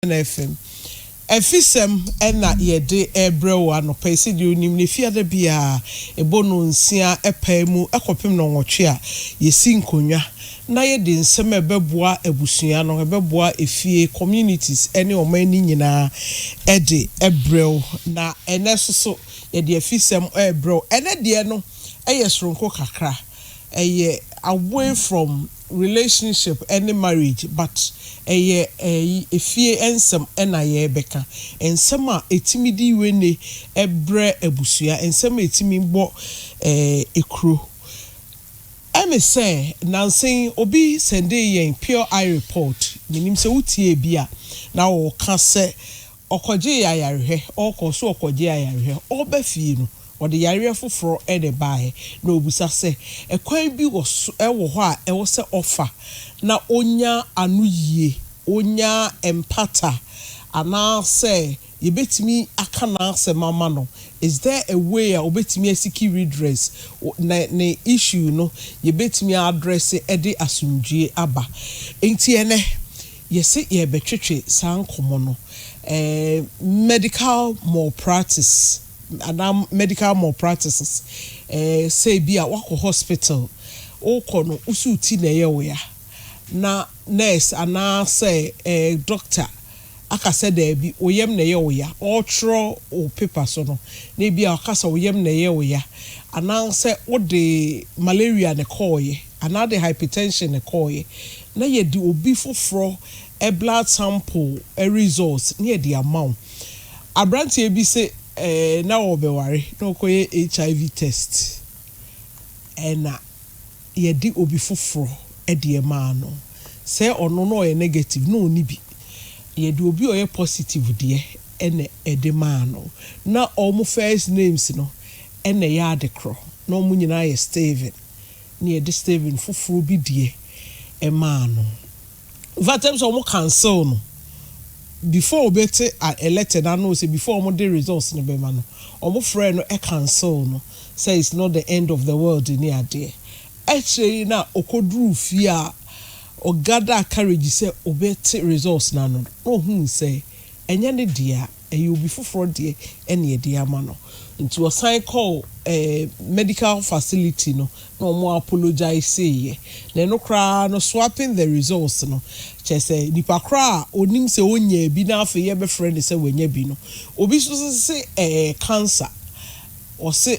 Ghana FM Afisɛm na yɛde rebrɛ wo anɔpa yi. Sɛdeɛ wonim no, Efiada biara ɛbɔ nnɔnsia pae mu kɔpem nnɔnwɔtwe a, yɛsi nkonnwa na yɛde nsɛm a ɛbɛboa abusua no, ɛbɛboa efie, communities ne ɔman no nyinaa de brɛ wo. Na ɛnnɛ nso so, yɛde Afisɛm rebrɛ wo. Ɛnnɛ deɛ no yɛ sononko kakra. ɛyɛ away from relationship ne marriage but ɛyɛ efie nsɛm na yɛrebɛka. Nsɛm a ɛtumi de wene brɛ abusua, nsɛm a ɛtumi bɔ kuro. Ɛne sɛ nnansa yi obi sɛndee yɛn pure eye report, menim sɛ wotiee bi a na ɔreka sɛ Ɔkɔgyee ayarehwɛ, ɔkɔɔ so kɔgyee ayarehwɛ. Ɔreba fie no, ɔde yareɛ foforɔ na ɛbaeɛ, na ɔbisa sɛ, Ɛkwan bi wɔ so, wɔ hɔ a ɛwɔ sɛ ɔfa na ɔnya anoyie, ɔnya mpata, anaa sɛ yɛbɛtumi aka n'asɛm ama no? Is there a way a ɔbɛtumi asiki redress, na ne issue no yɛbɛtumi address de asomdwoeɛ aba? Enti ɛnnɛ, Yɛse yɛrebɛtwetwe saa nkɔmmɔ no, ɛɛ medical malpractice anaa medical malpractices, ɛɛ sɛ ebi a woakɔ hospital, wokɔ no wo so wo ti na ɛyɛ wo ya, na nurse anaa sɛ ɛɛ doctor aka sɛ daabi wo yam na ɛyɛ wo ya, ɔretwerɛ wo paper so no na ebi a ɔka sɛ wo yam na ɛyɛ wo ya, anaa sɛ wode malaria na ɛkɔɔeɛ. Anaa de hypertension na ɛkɔeɛ na yɛde obi foforɔ blood sample results na yɛde ama wo. Aberanteɛ bi se na ɔrebɛware na ɔkɔyɛ HIV test na yɛde obi foforɔ deɛ maa no. Sɛ ɔno na ɔyɛ negative na ɔnni bi. Yɛde obi a ɔyɛ positive deɛ na ɛde maa no. Na wɔn first names no na ɛyɛ adekorɔ. Na wɔn nyinaa yɛ Steven. ne yɛde stevin foforɔ bi deɛ maa no infact ɛm sɛ wɔn cancel no before obɛte a letter no ano sɛ before wɔn de results no bɛma no wɔn frɛɛ no cancel no sɛ it's not the end of the world ne adeɛ akyire yi na ɔkɔduruu fie a ɔgadaa courage sɛ obɛte results no ano na ɔhuu sɛ ɛnyɛ ne deɛ a. ɛyɛ obi foforɔ deɛ ɛna ɛde ama no nti ɔsan kɔɔ medical facility no na ɔmo apologiseeɛ na ɛno koraa no swapping the results no kyerɛ sɛ nipa koraa a ɔnim sɛ ɔnyaa bi na afei yɛbɛfrɛ no sɛ wanya bi no obi nso se ɛɛ cancer ɔse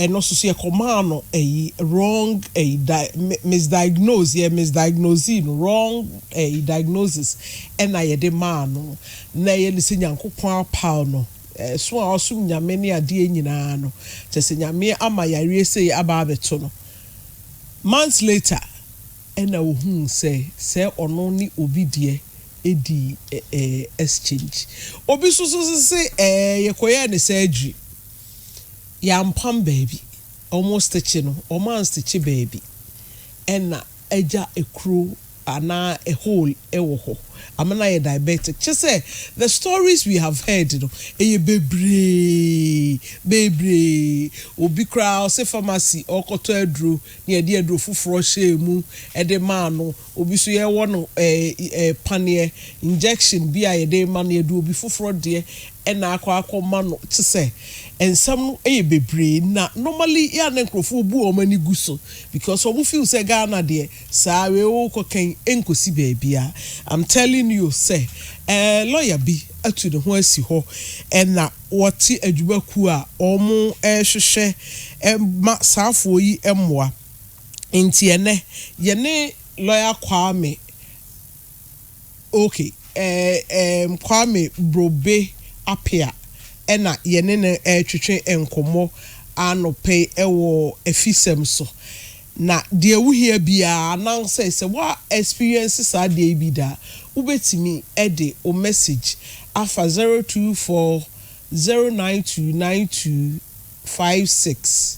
ɛno nso so yɛkɔmaa no ɛyi wrong ɛyi di misdiagnose yɛ misdiagnose no wrong ɛyi diagnosis ɛna yɛde maa no na ɛyɛ ne sɛ nyankopɔn apaw no ɛso a ɔsom nyame ne adeɛ nyinaa no kyɛ sɛ nyame ama yareɛ sɛ aba abɛto no months later ɛna ohun sɛ sɛ ɔno ne obi deɛ ɛdi ɛɛ exchange obi so so se ɛɛ yɛkɔyɛ ne surgery. Yɛampam baabi. Wɔstikye no, wɔanstikye baabi. Ɛna agya kuro anaa a hole wɔ hɔ. Amena ayɛ diabetic. Kyerɛ sɛ, the stories we have heard no, ɛyɛ bebree, bebree. Obi koraa ɔse pharmacy ɔrekɔtɔ aduro na yɛde aduro foforɔ hyɛɛ mu de maa no. Obi so yɛwɔ no ɛɛ paneɛ, injection, bi a yɛde ma no, yɛde obi foforɔ deɛ na akɔ akɔ ma no, kyesɛ nsɛm no yɛ bebree na normally yɛ a na nkorɔfoɔ bu wɔn ani gu so because wɔn feel sɛ Ghana deɛ saa wei wo kɔ kɛn ɛnkɔsi baabiara I'm telling you sɛ ɛɛ lawyer bi atu ne ho asi hɔ ɛna wɔte adwuma kuo a wɔn ɛɛhwehwɛ ɛma saafoɔ yi mmoa. Nti ɛnɛ yɛne lɔya Kwame okay ɛɛm Kwame Brobe Apea ɛna yɛne no ɛretwetwe nkɔmmɔ anɔpa yi ɛwɔ afisɛm so. Na deɛ wohia biara anaasɛ sɛ woa experience saa adeɛ yi bi da a, wobɛtumi ɛde wo message afa zero two four zero nine two nine two five six.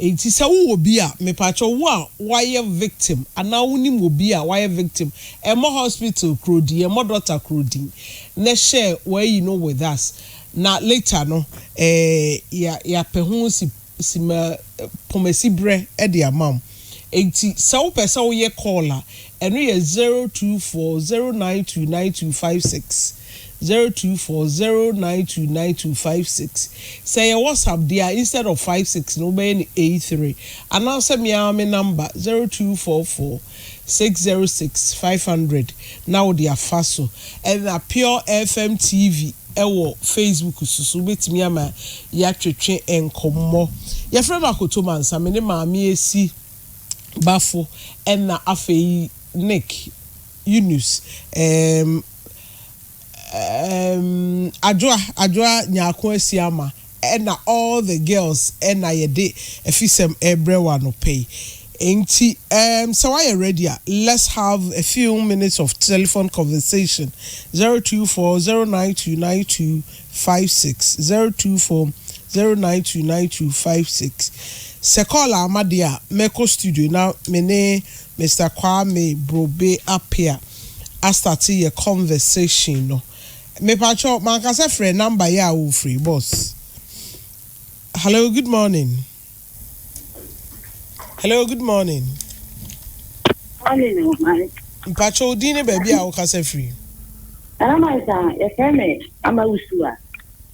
Enti sɛ wo wɔ bi a mepakyɛw wo a wayɛ victim anaa wo nim obi a wayɛ victim ɛmmɔ hospital koro din ɛmmɔ doctor koro din na hyɛ wayi no with us na later no eh ya pɛ ho si si ma pomasi brɛ de ama wo enti sɛ wo pɛ sɛ wo yɛ call a ɛno yɛ zero two four zero nine two nine two five six. zero two four zero nine two nine two five six sɛ ɛyɛ WhatsApp deɛ a instead of five six no wobɛyɛ no eight three anaasɛ me ara me number zero two four four six zero six five hundred na wode afa so ɛna Pure FM TV ɛwɔ Facebook so so wobɛtumi ama yɛatwetwe nkɔmmɔ yɛfrɛ me Akoto Mansa me ne Maame Asi Bafo ɛna afei Nick Yunus ɛɛm. Ehm Adwoa Adwoa Nyarko Asiama na all the girls na yɛde afisɛm rebrɛ wo anɔpa yi. Enti ehm sɛ woayɛ ready a let's have a few minutes of telephone conversation, zero two four zero nine two nine two five six, zero two four zero nine two nine two five six. Sɛ call amma deɛ a mɛkɔ studio na me ne Mister Kwame Brobe Appiah astate yɛ conversation no. Mepakyɛw, manka sɛ frɛ number yi a wofiri, boss. Hello, good morning. Hello, good morning. Morning, oh my. Mpakyɛw, wo din ne baabi a wokasa firi. Nana Mansa, yɛfrɛ me Ama Usua.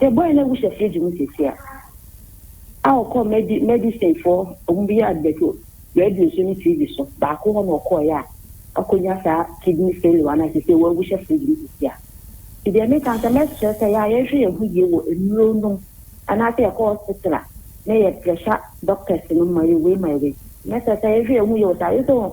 Sɛ bɔn na wohyɛ fridge mu sisi a, a ɔkɔ medi medicine fo ɔmo bi yɛ advert wɔ radio so ne TV so, baako hɔ na ɔkɔɔ yɛ a akonya saa kidney failure na sisi wɔ wohyɛ fridge mu sisi a. Nti deɛ me ka no sɛ mɛsrɛ sɛ yɛ a yɛnhwɛ yɛn ho yie wɔ nnuro nom anaa sɛ yɛkɔ hospital a na yɛ pressure doctors no ma yɛ wei ma yɛ wei. Mɛsrɛ sɛ yɛnhwɛ yɛn ho yie wɔ saa yɛ sɛ wɔn.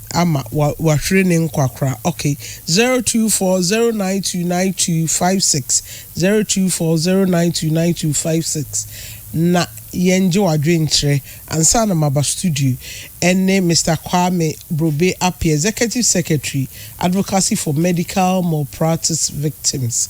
ama wahwere ne nkwa koraa ok zero two four zero nine two nine two five six zero two four zero nine two nine two five six na yɛn gye wadwenkyerɛ ansa na maba studio ɛne Mister Kwame Brobe Appiah Executive Secretary Advocacy for Medical Malpractice Victims.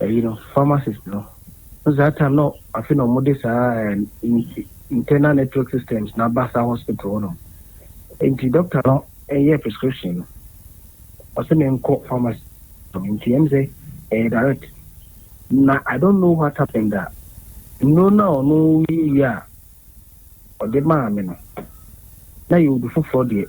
ɛyi no pharmacist no so saa time no afe na ɔmo de saa internal network systems na aba saa hospital hɔ nom nti doctor no ɛyɛ prescription no ɔsɛ me nkɔ pharmacy nti ɛm sɛ ɛyɛ direct na I don't know what happened a nnuro no a ɔno yi a ɔde maa me no, na yɛ obi foforɔ deɛ.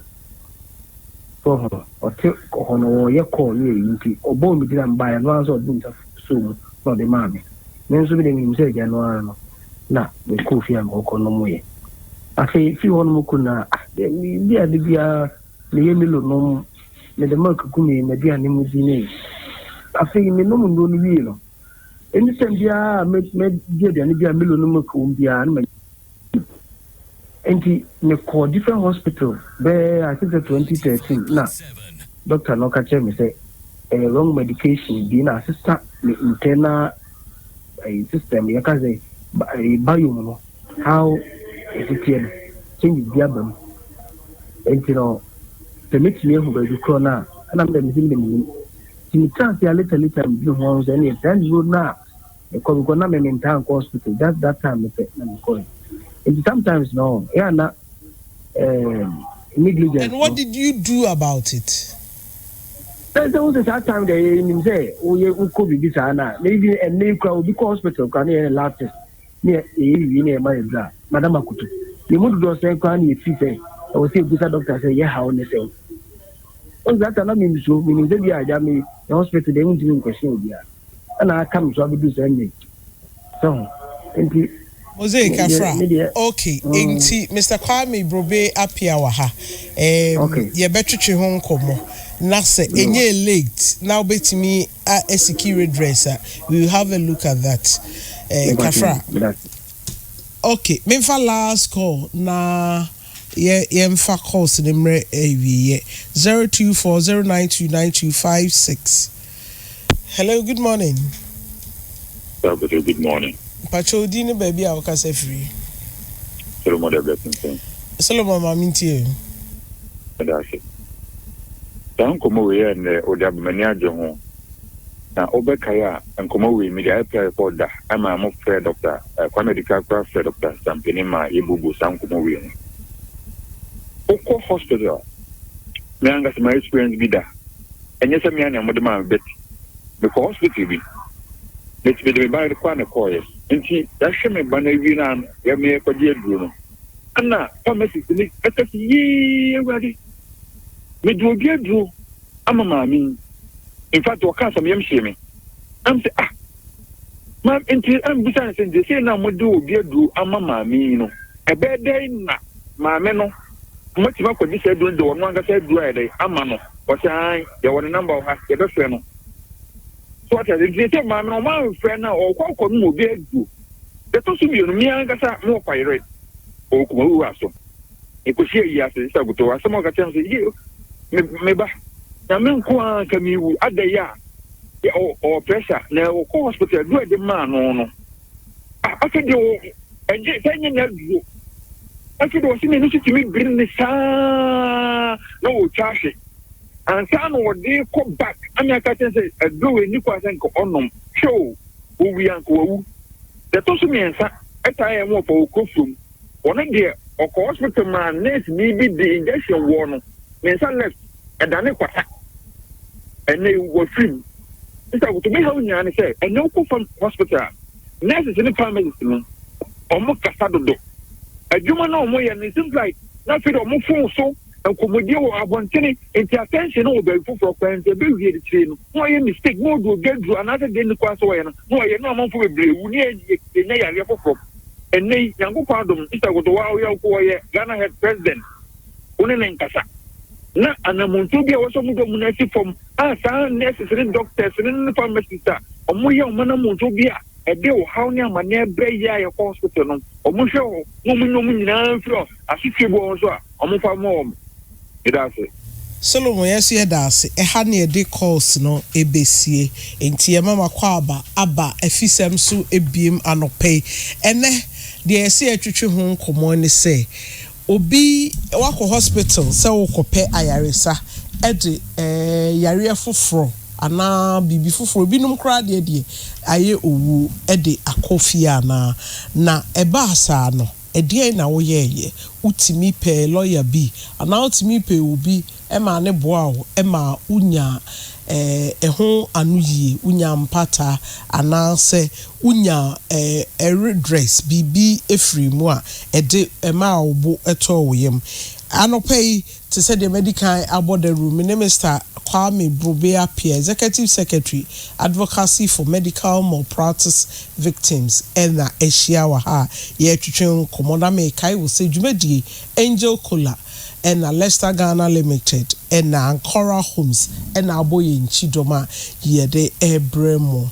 So ɔho? Ɔte hɔ no, ɔreyɛ call ne ayi nti, ɔbɔɔ me din a mebaeɛ no, ɔno ankasa ɔde ne nsa soo mu na ɔde maa me. Me nso medeɛ menim sɛ agya no ara no, na mekɔɔ fie a mekɔkɔ nomoeɛ. Afei firi hɔ nom kɔ nyinaa, ah deɛ medi ade biara, meyɛ Milo nom, mede milk gu me m'aduane mu di ne. Afei menom nnuro no wie no, Ɛne sɛ biara a mɛdi aduane bi a Milo no milk wɔ mu biara na manya nti mekɔɔ different hospital bɛɛ I think sɛ 2013 na doctor no ka kyerɛ me sɛ ɛyɛ wrong medication bi na asesa me internal ɛyɛ system yɛka sɛ biome no how ɛsiteɛ no changes bi aba mu nti no sɛ mɛtumi ahu baabi korɔ no a ɛna mede mesɛ mede menim Nti metraa ase a later later medwene ho ahu sɛ ɛneɛ saa nnuro no a mekɔ because na me mentaa nkɔ hospital just that time no pɛ na mekɔɛ. Nti sometimes no ɛyɛ a na um, negligence And what did you do about it? Sɛ sɛ wo sɛ saa time deɛ yɛnim sɛ woyɛ wokɔ biribi saa no a na even ɛnnɛ yi koraa obi kɔ hospital koraa na yɛyɛ ne lab test Nea eye no wie na ɛma yɛ bra. Madam Akoto, yɛn mu dodoɔ sɛn koraa na yɛfeel sɛ ɛwɔ sɛ yɛbisa dɔkta sɛ yɛ haw ne sɛn? Wohu saa time no me nsuro, menim sɛ bi a agya me yɛ hospital deɛ wontumi nquestion obiara ɛna aka me so abɛduru saa nnɛ yi. Sɛ ho? Nti Mosaic me deɛ, Afra, me deɛ, ok, mm. nti Mister Kwame Brobe Appiah wɔ ha, ɛɛm, Okay, yɛbɛtwetwe ho nkɔmmɔ, na sɛ yo. ɛnyɛɛ late na wobɛtumi a ɛsi key redress a we will have a look at that eh, kafra ok memfa last call na yɛ yɛmfa calls ne mmerɛ awieyɛ 0240929256 hello good morning Hello, good morning mpakyɛ odi ne baabi a wokasa firi solomon da bɛsensɛn solomon ma mentie ɛda ase Saa nkɔmmɔ wei yɛ nnɛ o de aba m'ani agye ho. Na wobɛkae a nkɔmmɔ wei mede IPR report da ɛma mo frɛɛ Dɔkta Kwame Adika koraa frɛɛ Dɔkta Sampani maa yɛbuebue saa nkɔmmɔ wei ho. Wokɔ hospital me ankasa ma experience bi da ɛnyɛ sɛ me a na mode maa me bet mekɔ hospital bi mede me ba kɔ a na ɛkɔɔyɛ nti yɛahwɛ me ba no awie no a yɛmeyɛ kɔgye aduro no Ɛnna famasifo no ka sɛ, Yiw, Awurade, mede obi aduro ama maame yi. In fact, ɔkaa sɛ meyam hyee me. Nam sɛ, ah, ma nti ambisa no sɛ, nti sei na mode obi aduro ama maame yi no, ɛbɛyɛ dɛn na maame no matumi akɔgye saa aduro no de ɔno ankasa aduro ayɛ dɛn ama no? Ɔsɛ an, yɛwɔ ne namba wɔ ha, yɛbɛfrɛ no. So ɔte ase, nti sɛ maame no ɔmamfrɛ no a ɔkɔ akɔnom obi aduro. Da ɛtɔ so mmienu, me ankasa mewɔ Payerɛ wɔ Kumawu hɔ aso. Mekɔhyiaa yi ase Sista Gotoo, asɛm a ɔka kyerɛɛ me sɛ, Yeo, me, me ba, Nyame nko ara nka mewu, adɛn a, yɛ, ɔ, ɔwɔ pressure, na ɔkɔ hospital, aduro a yɛde maa no no, ah, afei deɛ wɔ, ɛnyɛ, sɛ ɛnyɛ n'aduro, afei deɛ ɔse n'ani so tumi biri ne saa, na ɔretwa ahwe. Ansa na ɔde rekɔ back na me aka kyerɛ sɛ aduro ɛnni kwan sɛ nka ɔnom. Hwɛ o, ɔwui a nka wawu. Deɛ ɛtɔ so mmiɛnsa ɛtaa yɛ me wɔfa wɔ Kofurom. Ɔno deɛ ɔkɔɔ hospital maa nurse ni bi de injection wɔɔ no, ne nsa left ɛdane kwata. Ɛnnɛ yi wafiri mu. Sister Akoto, me haw nyinaa ne sɛ ɛnnɛ wokɔ fam hospital a, nurses ne pharmacists no, wɔkasa dodo. Adwuma no a wɔyɛ no, it seems like na afei deɛ wɔforo so Nkɔmmɔdie wɔ abɔntene nti attention no wɔ baabi foforɔ koraa nti ɛbɛwie akyire no na wayɛ mistake na ɔde obi aduru anaasɛ deɛ nni kwan sɛ ɔyɛ no na wayɛ na amanfoɔ bebree wu na yɛnya yareɛ foforɔ ɛnnɛ yi Nyankopɔn adom no Sister Goto wa woyɛ wokɔ wɔyɛ Ghana head president wo ne ne nkasa na anamontuo bi a wɔsɛ ɔmo dɔ mu no asi fam a saa nurses ne doctors ne ne pharmacist a ɔmo yɛ ɔmo anamontuo bi a ɛde ɔhaw ne amanneɛ brɛ yɛ a yɛkɔ hospital no ɔmo hwɛ hɔ na ɔmo nyɛ ɔmo nyinaa mfiri asotwe bi wɔ ho so a Wɔmfa mmɔ wɔn. Meda ase. Solomon yɛso yɛda ase ɛha ne yɛde calls no ɛbɛsie enti yɛma mo akwaaba aba afisɛm so ɛbiem anɔpa yi ɛnɛ deɛ yɛse yɛtwetwe ho nkɔmɔ ne sɛ obi wakɔ hospital sɛ wokɔpɛ ayaresa ɛde yareɛ foforɔ anaa biribi foforɔ binom koraa deɛ deɛ ayɛ owuo ɛde akɔ fie anaa na ɛbaa saa no Ɛdeɛn na woyɛeɛ? Wotumi pɛɛ lɔya bi anaa wotumi pɛɛ obi maa ne boaa wo maa wonyaa ɛho anoyie, wonyaa mpata anaasɛ wonyaa redress, biribi firii mu a ɛde ɛmaa wo bo tɔɔ wo yam. Anɔpa yi, Te sɛ deɛ madi kan abɔ dawuro, me ne Mister Kwame Brobey Appiah, Executive Secretary, Advocacy for Medical Malpractice Victims na ahyia wɔ ha a yɛretwetwe nkɔmmɔ na merekae wo sɛ dwumadie Angel Cola na Lester Ghana Limited na Ancora Homes na abɔ yɛn kyidɔm a yɛde rebrɛ mo.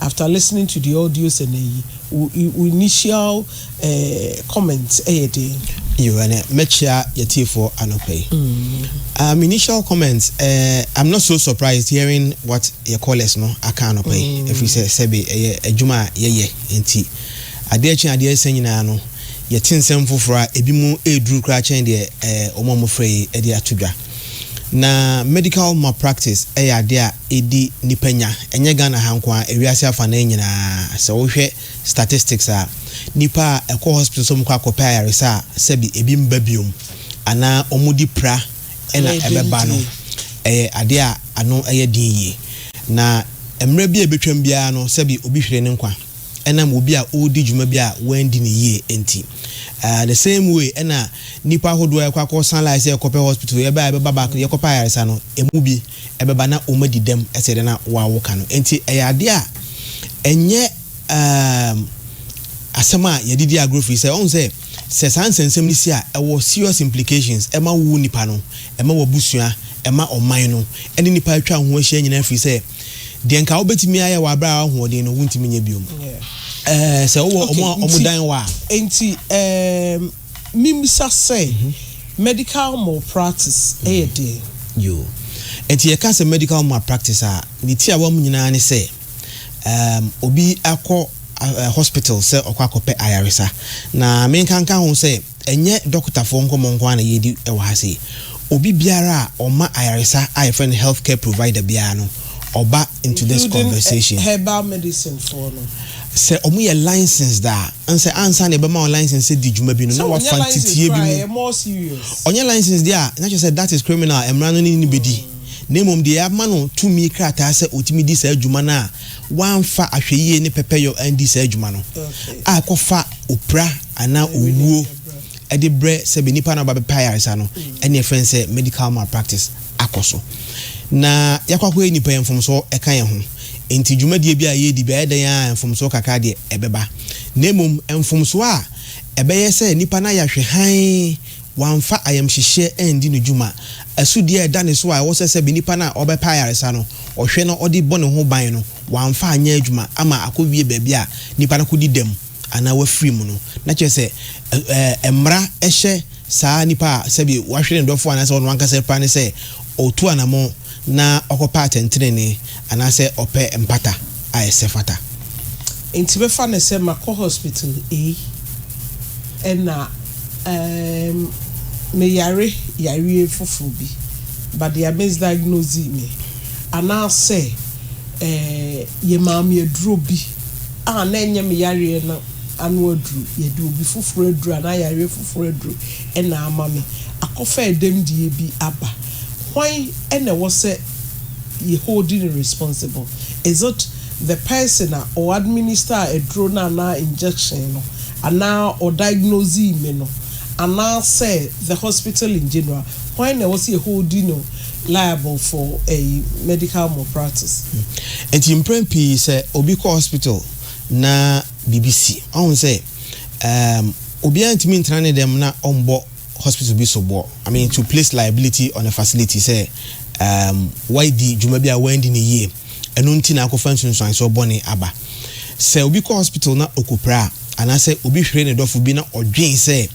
After listening to the audios ɛnɛ yi, wo wo initial eh, comment ɛyɛ den? Yo, ɛnɛ mɛkyea yɛtiefoɔ anɔpa yi. Um, initial comment, eh, I'm not so surprised hearing what yɛ callers no aka anɔpa yi, ɛfiri sɛ sɛbe ɛyɛ adwuma a yɛyɛ nti, adeɛ kye adeɛ resa nyinaa no, yɛte nsɛm foforɔ a ebi mu ɛreduru koraa kyɛn deɛ eh, wɔn a wɔfrɛ yi de ato dwa. Na medical malpractice yɛ adeɛ a ɛdi nnipa nya, ɛnyɛ Ghana ha nko ara, ewiase afanaa nyina ara. Sɛ wo hwɛ statistics a, nnipa a ɛkɔ hospital sɛ wɔkɔ akɔpɛ ayaresa a sɛbi ɛbi mba biom anaa wɔn di pra na ɛbɛba no, ɛyɛ adeɛ a ano yɛ den yie. Na mmerɛ bi a ɛbɛtwam biara no sɛbi obi hwere ne nkwa. ɛnam obi a ɔredi dwuma bi a wanndi no yie nti. The same way na nnipa ahodoɔ a yɛkɔ akɔ san life sɛ yɛkɔpɛ hospital yɛbɛ a yɛbɛba back no yɛkɔpɛ ayaresa no ɛmu bi ɛbɛba na wɔn adi dɛm ɛsɛ dɛ na wo a woka no nti ɛyɛ adeɛ a ɛnyɛ um, asɛm a yɛde di agorɔ firi sɛ ɔhu sɛ sɛ saa nsɛnsɛm no si a ɛwɔ serious implications ɛma wo nipa no ɛma w'abusua ɛma ɔman no ɛne nipa atwa ho ahyia nyinaa firi sɛ deɛ nka wobɛtumi ayɛ wɔ aberɛ a wahoɔden no wontumi nyɛ biom eh, sɛ wowɔ ɔmo a ɔmo dan wɔ a enti um, membisa sɛ mhm. medical malpractice ɛyɛ mhm. deɛ yo enti yɛka sɛ medical malpractice a ne ti a wɔm nyinaa ne sɛ um, obi akɔ uh, hospital sɛ ɔkɔ akɔpɛ ayaresa na menkanka ho sɛ Ɛnyɛ dɔkotafoɔ nkɔmmɔ nko ara na yɛredi wɔ ha sei. Obi biara a ɔma ayaresa a yɛfrɛ no health care provider biara no, ɔba into this conversation. Including herbal medicine foɔ no. Sɛ wɔyɛ licensed a, ɛne sɛ ansa na yɛbɛma wɔn licence sɛ di dwuma bi no, na wɔafa nteteeɛ bi mu. Sɛ wɔnyɛ licensed koraa a, ɛyɛ more serious. Wɔnyɛ licensed deɛ a, na kyerɛ sɛ that is criminal, mmara no ne no bɛdi. Na mmom deɛ yɛama no tumi krataa sɛ ɔtumi di saa dwuma no a, wamfa ahwɛyie ne pɛpɛyɔ andi saa dwuma no, a ɛkɔfa opira, anaa owuo de brɛ sɛ bɛ nipa no a ɔba bɛpɛ ayaresa no ɛne yɛfrɛ no sɛ medical malpractice akɔ so na yɛakɔ akɔyɛ nnipa yɛ mfomsoɔ ɛka yɛn ho nti dwumadie bi a yɛredi bi ayɛ dɛn a mfomsoɔ kakra deɛ ɛbɛba na mmom mfomsoɔ a ɛbɛyɛ sɛ nipa no ayɛ ahwɛ hann wamfa ayamhyehyeɛ andi no dwuma asudie a ɛda ne so a ɛwɔ sɛ sɛ bɛ nipa no a ɔbɛpɛ ayaresa no ɔhwɛ na ɔde bɔ ne ho ban no wamfa anyɛ adwuma ama akɔwie baabi a nipa no akɔdi dɛm anaa wafiri mu no, na kyerɛ sɛ, ɛ, ɛ, mmara hyɛ saa nipa a sɛbi wahwere ne dɔfo anaasɛ ɔno ankasa repira no sɛ ɔtu anammɔn na ɔkɔpɛ atɛntenenee anaasɛ ɔpɛ mpata a ɛsɛ fata. Enti bɛfa no sɛ makɔ hospital ei ɛna, ɛ, meyare yareɛ foforɔ bi, but they are misdiagnosing me, anaasɛ, ɛ, yɛmaa me aduro bi. a na ɛnyɛ me yareɛ no ano aduru, yɛde obi foforɔ aduru anaa yareɛ foforɔ aduru na ama me, akɔfa ɛdɛmdie bi aba. Hwan na ɛwɔ sɛ yɛ hold no responsible? Is it the person a ɔ administer aduro no anaa injection no anaa ɔ diagnosee me no anaasɛ the hospital in general? Hwan na ɛwɔ sɛ yɛ hold no liable for ɛyi medical malpractice. Nti mprɛn pii sɛ obi kɔ hospital na biribi si, wahu sɛ ɛɛm obiara ntumi ntena ne dɛm na ɔmbɔ hospital bi soboɔ, I mean to place liability on a facility sɛ ɛɛm wadi dwuma bi a wanndi no yie, ɛno nti na akɔfa nsunsuansoɔ bɔne aba. Sɛ obi kɔ hospital na ɔkɔpira a, anaasɛ obi hwere ne dɔfo bi na ɔdwen sɛ.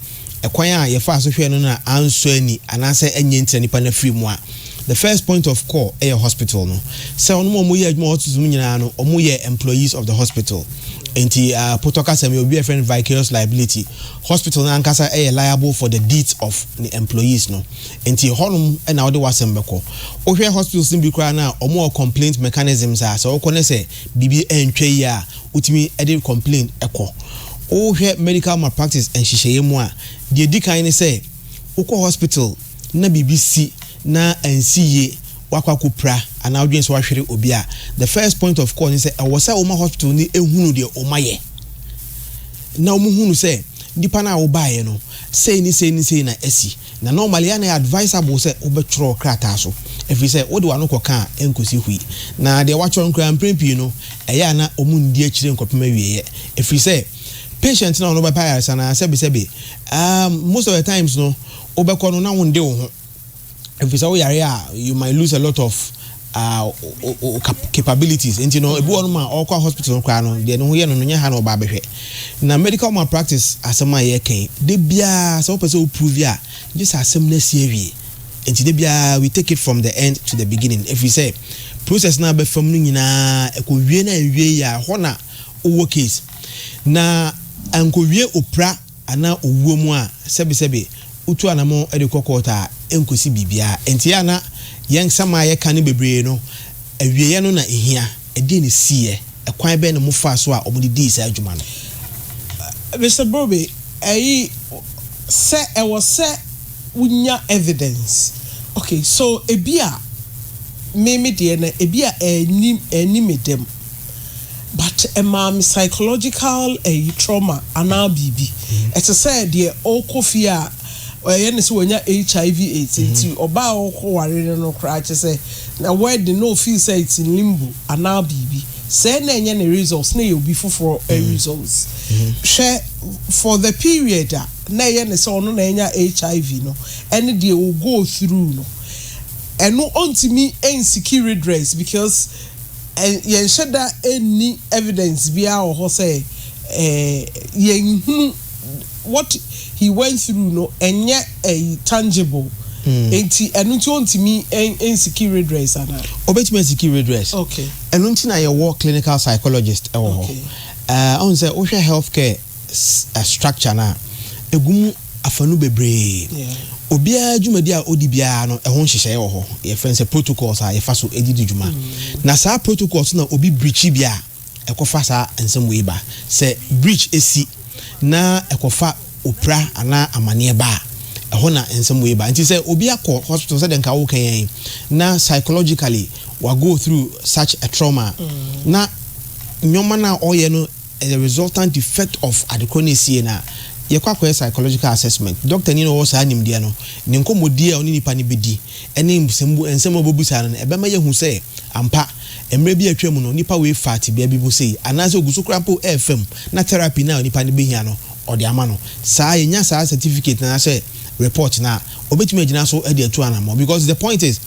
ɛkwan a yɛfaa so hwɛɛ no no na ansɔ ani anaasɛ ɛnyɛ nti na nipa no afiri mu a, the first point of call yɛ hospital no. Sɛ wɔnom a wɔyɛ adwuma wɔ hospital mu nyinaa no, wɔyɛ employees of the hospital. Enti Potɔ kasa mu yi, obi bɛfrɛ no vicarious liability. Hospital no ankasa yɛ liable for the deeds of ne employees no. Enti hɔnom na wode w'asɛm bɛkɔ. Wohwɛ hospitals no bi koraa no a, wɔwɔ complaint mechanisms a sɛ wokɔ na sɛ biribi antwa yie a, wotumi de complain kɔ. Wohwɛ medical malpractice nhyehyɛeɛ mu a, deɛ ɛdi kan ne sɛ, wokɔ hospital na biribi si na ansi yie, woakɔ akɔpira anaa wodwene sɛ woahwere obi a, the first point of call ne sɛ, ɛwɔ sɛ woma hospital no hunu deɛ womayɛ, na wɔhunu sɛ nipa no a wobaeɛ no, sei ne sei ne sei na asi. Na normally ɛyɛ a na ɛyɛ advisable sɛ wobɛtwerɛ krataa so, ɛfiri sɛ wode w'ano kɔka a ɛnkɔsi hwee. Na deɛ woatwerɛ no koraa mprɛn pii no, ɛyɛ a na wɔnndi akyire nkɔpem awieeɛ, ɛfiri sɛ patient no a ɔno bɛpɛ ayaresa no ara sɛbesɛbe um most of the times no wobɛkɔ no na wonnde wo ho, ɛfiri sɛ woyare a you might lose a lot of ah ka capabilities nti no ebi wɔ no ma ɔkɔ hospital koraa no deɛ ne ho yɛ no no nyɛ ha na ɔba abɛhwɛ na medical malpractice asɛm a yɛka yi da biara sɛ wopɛ sɛ woprove a gye sɛ asɛm no asi awie nti da biara we take it from the end to the beginning ɛfiri sɛ process no a bɛfam no nyinaa ɛkɔwie no anwie yɛ a hɔ na wowɔ case na ankowie opra anaa owuo mu a, sɛbesɛbe wotu anamɔn de kɔ kɔɔt a, ɛnkosi biribiara. Enti a na yɛn nsɛm a yɛka no bebree no, awieɛ no na ɛhia. Ɛdeɛn na ɛsiiɛ? Ɛkwan bɛn na wɔfaa so a wɔde dii saa dwuma no? Mister Brobe, ɛyi sɛ ɛwɔ sɛ wonya evidence. Okay, so ebi a me me deɛ no, ebi a ɛnni ɛnni me dɛm. but ɛmaa me psychological ɛyi trauma anaa biribi. Ɛte sɛ deɛ ɔrekɔ fie a ɛyɛ ne sɛ wanya HIV AIDS nti ɔbaa a ɔrekɔ ware no no koraa kyɛ sɛ na wedding na ɔfeel sɛ it's in limbo anaa biribi sɛɛ na ɛnyɛ ne results na ɛyɛ obi foforɔ results. Hwɛ for the period a na ɛyɛ ne sɛ ɔno na anya HIV no ɛne deɛ ɔ go through no ɛno ɔntumi nsiki redress because yɛnhyɛ da nni evidence biara wɔ hɔ sɛ yɛnhunu what he went through no ɛnyɛ tangible nti ɛno nti ɔntumi nsiki redress anaa? Ɔbɛtumi asiki redress. Okay. Ɛno nti na yɛwɔ clinical psychologist wɔ hɔ. Okay. Uh, ɔn sɛ wohwɛ healthcare structure no a, ɛgu mu afanu bebree. Obiara dwumadi a ɔdi biara no, ɛho nhyehyɛeɛ wɔ hɔ. Yɛfrɛ no sɛ protocols a yɛfa so de di dwuma. Na saa protocols no na obi breachi bi a, ɛkɔfa saa nsɛm wei ba. Sɛ breach si na ɛkɔfa opira anaa amaneɛ ba a, ɛhɔ na nsɛm wei ba. Nti sɛ obi akɔ hospital sɛdeɛ nka woka yi ara na psychologically wa go through such a trauma a, na nneɛma no a ɔyɛ no The resultant defect of adekorɔ no ɛsiiɛ no a, yɛkɔ akɔyɛ psychological assessment. Dɔktani no a ɔwɔ saa nimdeɛ no, ne nkɔmmɔdie a ɔne nipa no bɛdi ne nsɛmbu nsɛm a ɔbɛbisa no no ɛbɛma yɛahu sɛ ampa, mmerɛ bi a atwam no nipa wei faa tebea bi mu sei anaasɛ ɔgu so koraa mpo refa mu na therapy no a onipa no bɛhia no ɔde ama no. Saa yɛnya saa certificate no anaasɛ report no a, ɔbɛtumi agyina so de atu anammɔn because the point is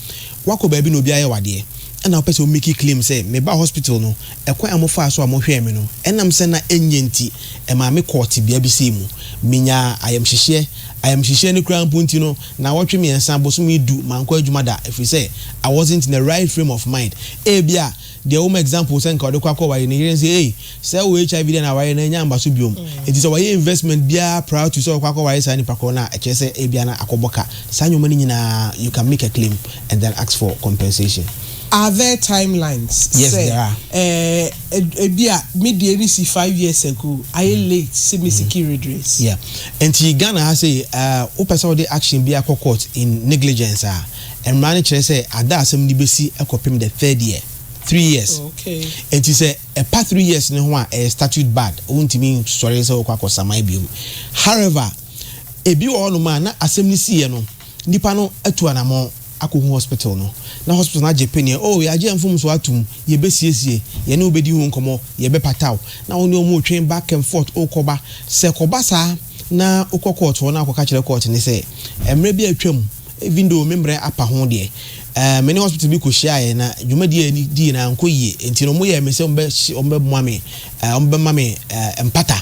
woakɔ baabi na obi ayɛ wo adeɛ ɛna wopɛ sɛ wo make claim sɛ mebaa hospital no Ɛkwan a mofaa so a mohwɛɛ me no, ɛnam sɛ na ɛnyɛ nti, ɛmaa mekɔɔ tebea bi sei mu. Menyaa ayamhyehyeɛ. Ayamhyehyeɛ no koraa mpo nti no, nnawɔtwe mmiɛnsa, bosome du, mankɔ adwuma da, ɛfiri sɛ, I wasn't in the right frame of mind. Ebia, deɛ woma example sɛ nka ɔde kɔ akɔware ne yere no sɛ, Ei, sɛ wowɔ HIV deɛ na awareɛ no annya mmaso biom. Enti sɛ wayɛ investment biara prior to sɛ ɔkɔ akɔware saa nipa korɔ no a, ɛkyerɛ sɛ ebia na akɔbɔ ka. Saa nneɛma no nyinaa, you can make a claim and then ask for compensation. Are there timelines Yes sɛ there are. eh ebi a me deɛ no si five years ago ayɛ late sɛ me siki redress. Yeah nti Ghana ha sei eh wo pɛ sɛ wo de action biara kɔ court in negligence a mmara no kyerɛ sɛ ada a asɛm no bɛsi kɔ pem the third year three years Okay. nti sɛ ɛpa three years no ho a ɛyɛ statute barred wo ntumi nsɔre sɛ wo kɔ akɔ saman biom however ebi wɔ hɔ nom a na asɛm no siiɛ no Nnipa no atu anamɔn akɔhu hospital no, na hospital no agye peneɛ, Oh, yɛagye mfomsoɔ atom, yɛbɛsiesie, yɛne wo bɛdi ho nkɔmmɔ, yɛbɛpata wo, na wo ne wɔn retwɛn back and forth, wokɔba. Sɛ kɔba saa na wokɔ court hɔ na wokɔka kyerɛ court no sɛ, mmerɛ bi a atwam, even though me mmerɛ apa ho deɛ, eh, me ne hospital bi kɔhyiaeɛ na dwumadie a yɛne diiɛ no ankɔ yie, enti no wɔyɛɛ me sɛ wɔbɛhye, wɔbɛboa me, eh, wɔbɛma me, eh, mpata.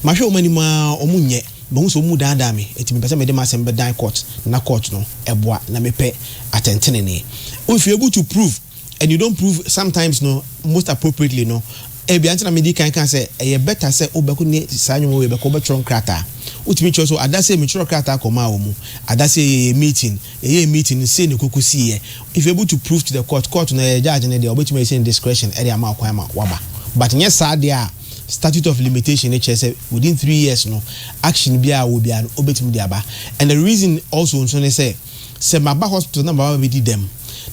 Mahwɛ wɔn anim ara, wɔnyɛ. Mahu sɛ wɔn daadaa me, enti mepɛ sɛ mede m'asɛm bɛdan court na court no boa na mepɛ atɛntenenee. Wo if you able to prove and you don't prove sometimes no most appropriately no ebia nti na mede kan kaa sɛ ɛyɛ better sɛ wobɛko ne saa nnwoma wei bɛkɔ wobɛtwerɛ nkrataa. Wotumi kyerɛ so adasee metwerɛ krataa kɔmaa wɔn mu adasee yɛyɛ meeting yɛyɛɛ meeting no sei na ɛkɔkɔ siiɛ if you able to prove to the court court no ɛyɛ judge no deɛ ɔbɛtumi ayɛ sɛ ne discretion de ama wo kwan ma woaba but nyɛ saa deɛ a Statute of limitation no kyerɛ sɛ within three years no action biara a ɔwɔ biara no ɔbɛtumi de aba and the reason also nso ne sɛ sɛ maba hospital na maba bɛdi dɛm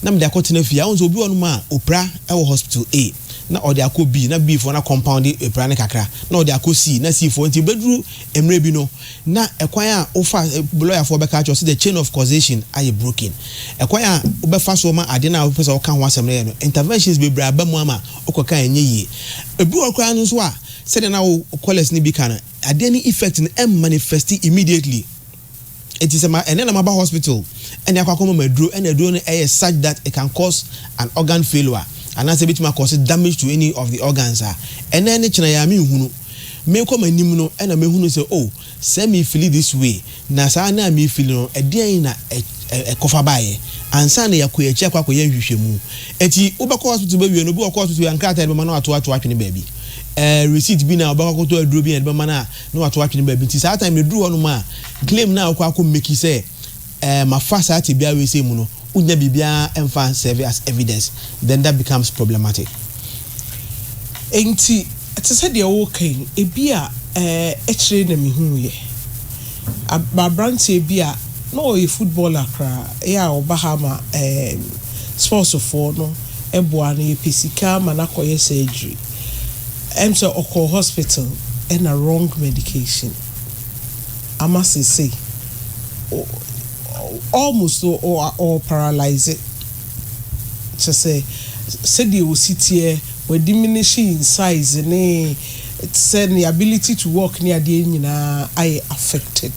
na mede akɔtena fie a wohu sɛ obi wɔ nom a ɔpira wɔ hospital A na ɔde akɔ B na B foɔ no akɔmpɔnde ɔpira no kakra na ɔde akɔ C na C foɔ nti bɛduru mmerɛ bi no na ɛkwan a wofa lawyer foɔ bɛka akyerɛ sɛ the chain of causation ayɛ broken ɛkwan a wobɛfa soɔ ma ade no a wopɛ sɛ woka ho asɛm no yɛ no interventions bebree aba mu ama wokɔka a ɛnyɛ yie. Ebi wɔ hɔ koraa no nso a, sɛdeɛ na wo callers no bi ka no, adeɛ no effect no ɛmmanifɛsti immediately. Enti sɛ ma ɛnnɛ na maba hospital ne akɔ akɔma m'aduro ɛna aduro no ɛyɛ such that it can cause an organ failure anaasɛ ɛbɛtumi akɔse damage to any of the organs a, ɛnnɛ ne kyena yɛ a menhunu. Meekɔ m'anim no ɛna mɛhunu sɛ oh, Sɛ me fili this way na saa na me fili no, ɛdeɛn na ɛkɔfa baeɛ? Ansa na yɛakɔ yɛn akyi akɔ akɔyɛ nhwehwɛmu. Ɛti wobɛkɔ hospital bɛwie no, obi ɔkɔ hospital wie a nkrataa a yɛde bɛma no na wato ato atwene baabi. Ɛɛ receipt bi na ɔbɛkɔ akɔtɔ aduro bi na yɛde bɛma no a na wato atwene baabi. Nti saa time no ɛduru hɔnom a claim no a wokɔ akɔ make sɛ Ɛɛ ma fa saa tebea wei sei mu no wo nya biribiara ɛmfa serve as evidence then that becomes problematic. Ɛnti te sɛ deɛ wo reka yi ɛbi a ɛɛ ɛkyerɛ na me huu yɛ ab abranteɛ bi a na ɔyɛ footballer koraa ɛyɛ a ɔba ha ma ɛɛ sports foɔ no ɛboa no yɛpɛ sika ama no akɔ yɛ surgery ɛm sɛ ɔkɔɔ hospital ɛna wrong medication. ama seesei almost ɔwɔ paralyse kyerɛ sɛ sɛdeɛ ɔsi teɛ wa diminish in size ne te sɛ ne ability to walk ne adeɛ nyinaa ayɛ affected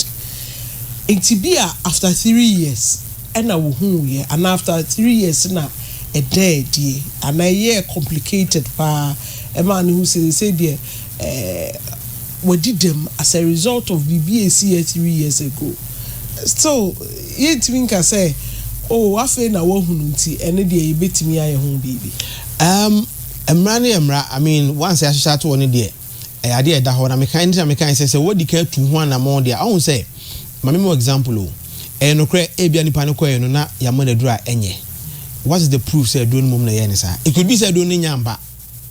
nti bi a after three years ɛna wɔhuuiɛ anaa after three years na ɛdaa adie anaa ɛyɛɛ complicated paa ɛmaa no hu sɛ seesei deɛ eh wadi dɛm as a result of biribi a ɛsii yɛ three years ago still yɛntumi nka sɛ oh afei na wahunu nti ɛno deɛ yɛbɛtumi ayɛ ho biribi. Um mmara no yɛ mmara I mean once yɛahyehyɛ ato hɔ no deɛ ɛyɛ adeɛ a ɛda hɔ na mekae ɛno nti na mekae sɛ sɛ wadi kan atu ho anammɔn deɛ a ɔhu sɛ ma me ma wo example o ɛyɛ nokorɛ ebia nipa no kɔeɛ no na yɛama no aduro a ɛnyɛ what is the proof sɛ aduro no mmom na ɛyɛɛ no saa it could be sɛ aduro no nnya amba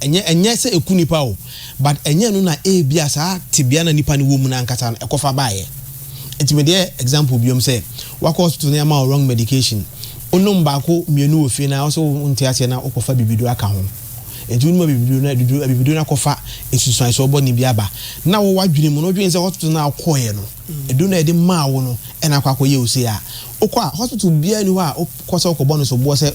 Ɛnyɛ ɛnyɛ sɛ ɛku nipa o, but ɛnyɛ ɛno na ebia saa tebea na nipa no wɔ mu no ankasa no ɛkɔfa baeɛ. Nti mede yɛ example biom sɛ, wakɔ hospital na yɛama wo wrong medication, wonom baako mmienu wɔ fie no ara wo sɛ wonte aseɛ na wokɔfa bibiduro aka ho. Nti wonom abibiduro no a abibiduro no akɔfa nsunsuansoɔ bɔne bi aba. Na wo w'adwene mu no wodwene sɛ hospital no a wokɔeɛ no, aduro no a yɛde maa wo no na akɔ akɔyɛ wo sei a, wokɔ a hospital biara nni hɔ a wokɔ sɛ wokɔbɔ no soboɔ sɛ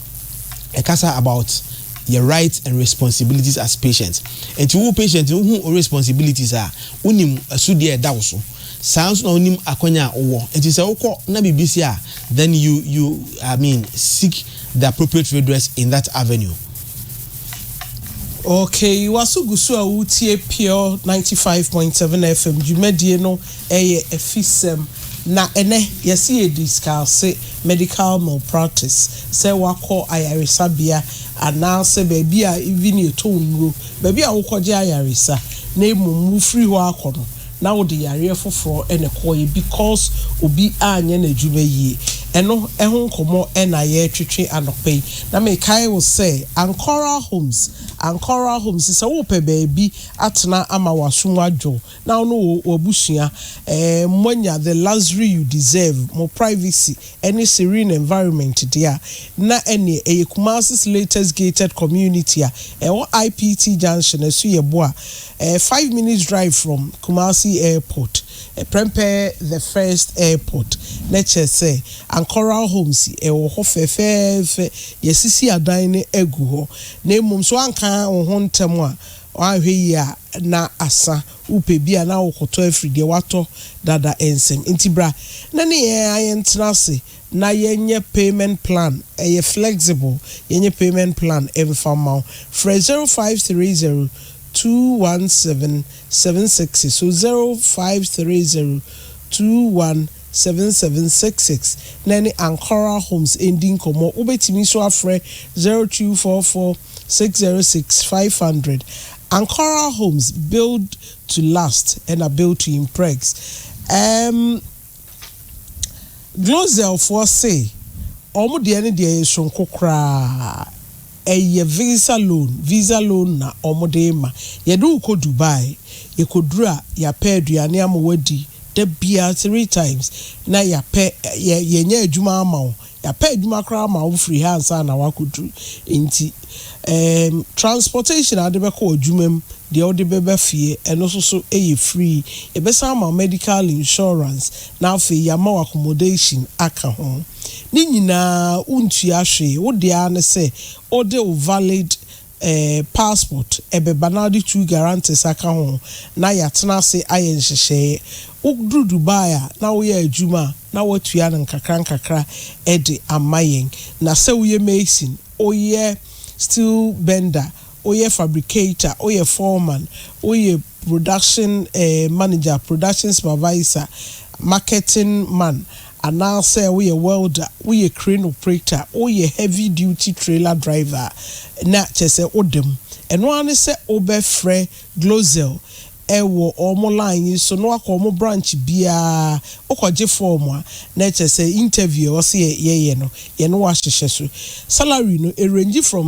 ɛkasa about yɛ rights and responsibilities as patient. Nti wo patient no wohu wo responsibilities a, wonim asodi a ɛda wo so. Saa nso na wonim akwanya a wowɔ. Nti sɛ wokɔ na biribi si a, then you you I mean seek the appropriate redress in that avenue. Okay, waso gu so a woretie Pure ninety five point seven FM dwumadie no Ɛyɛ afisɛm. Na ɛnɛ yɛse yɛ discuse medical malpractice, sɛ wakɔ ayaresabea anaasɛ baabi a even yɛtɔ nnuro, baabi a wokɔgye ayaresa na mmom wofiri hɔ akɔ no na wode yareɛ foforɔ na ɛkɔɔeɛ because obi anyɛ n'adwuma yie. Ɛno ho nkɔmmɔ na yɛretwetwe anɔpa yi. Na mekae wo sɛ Ancora Homes, Ancora Homes sɛ wopɛ baabi atena ama w'asom adwo, na wo ne wo w'abusua eh moanya the luxury you deserve, mo privacy ne serene environment deɛ a, na ɛneɛ ɛyɛ Kumasis latest gated community a ɛwɔ IPT junction ɛso yɛ boa eh five minutes drive from Kumasi airport eh prɛmpɛɛ the first airport na kyerɛ sɛ Ancoral homes ɛwɔ hɔ fɛfɛɛfɛ yɛasisi adan no agu hɔ na mmom so anka wo ho ntɛm a Woanhwɛ yie a na asa, wopɛ bi a na wokɔtɔ afiri deɛ woatɔ dada nsam. Nti bra na ne yɛn ara yɛntena ase na yɛnyɛ payment plan, ɛyɛ flexible, yɛnyɛ payment plan mfa mma wo. Frɛ zero five three zero two one seven seven six six, so zero five three zero two one seven seven six six na ɛne Ankara Homes ndi nkɔmmɔ. Wobɛtumi nso afrɛ zero two four four. six zero six five hundred Ankara Homes build to last ɛna build to imprex ɛɛm Glosel foɔ se wɔn deɛ no deɛ yɛ soronko koraa ɛyɛ visa loan visa loan na wɔn de rema yɛde wo kɔ Dubai yɛkɔduru a yɛapɛ aduane ama wo adi da biara three times na yɛapɛ yɛ yɛnyɛ adwuma ama wo Yɛapɛ adwuma koraa ma wo firi ha ansa na woakɔduru. Enti eem transportation a wode bɛkɔ w'adwuma mu, deɛ wode bɛba fie, ɛno nso so yɛ free. Yɛbɛsan ama wo medical insurance na afei yɛama wo accommodation aka ho. Ne nyinaa wontua hwee, wo deɛ ara ne sɛ wode wo valid eh, passport ɛbɛba na wode two guarantors aka ho na yɛatena ase ayɛ nhyehyɛeɛ. Woduru Dubai a na woyɛ adwuma a, na woatua no nkakra nkakra de ama yɛn. Na sɛ woyɛ mason, woyɛ steel bender, woyɛ fabricator, woyɛ foreman, woyɛ. production manager, production supervisor, marketing man, anaasɛ woyɛ welder, woyɛ crane operator, woyɛ heavy duty trailer driver a, na kyerɛ sɛ woda mu. Ɛno ara ne sɛ wobɛfrɛ Glocel wɔ wɔn line yi so na woakɔ wɔn branch biara, wokɔgye fɔɔm a, na kyerɛ sɛ interview a ɛwɔ sɛ yɛyɛ no, yɛne wo ahyehyɛ so. Salary no, ɛrange from.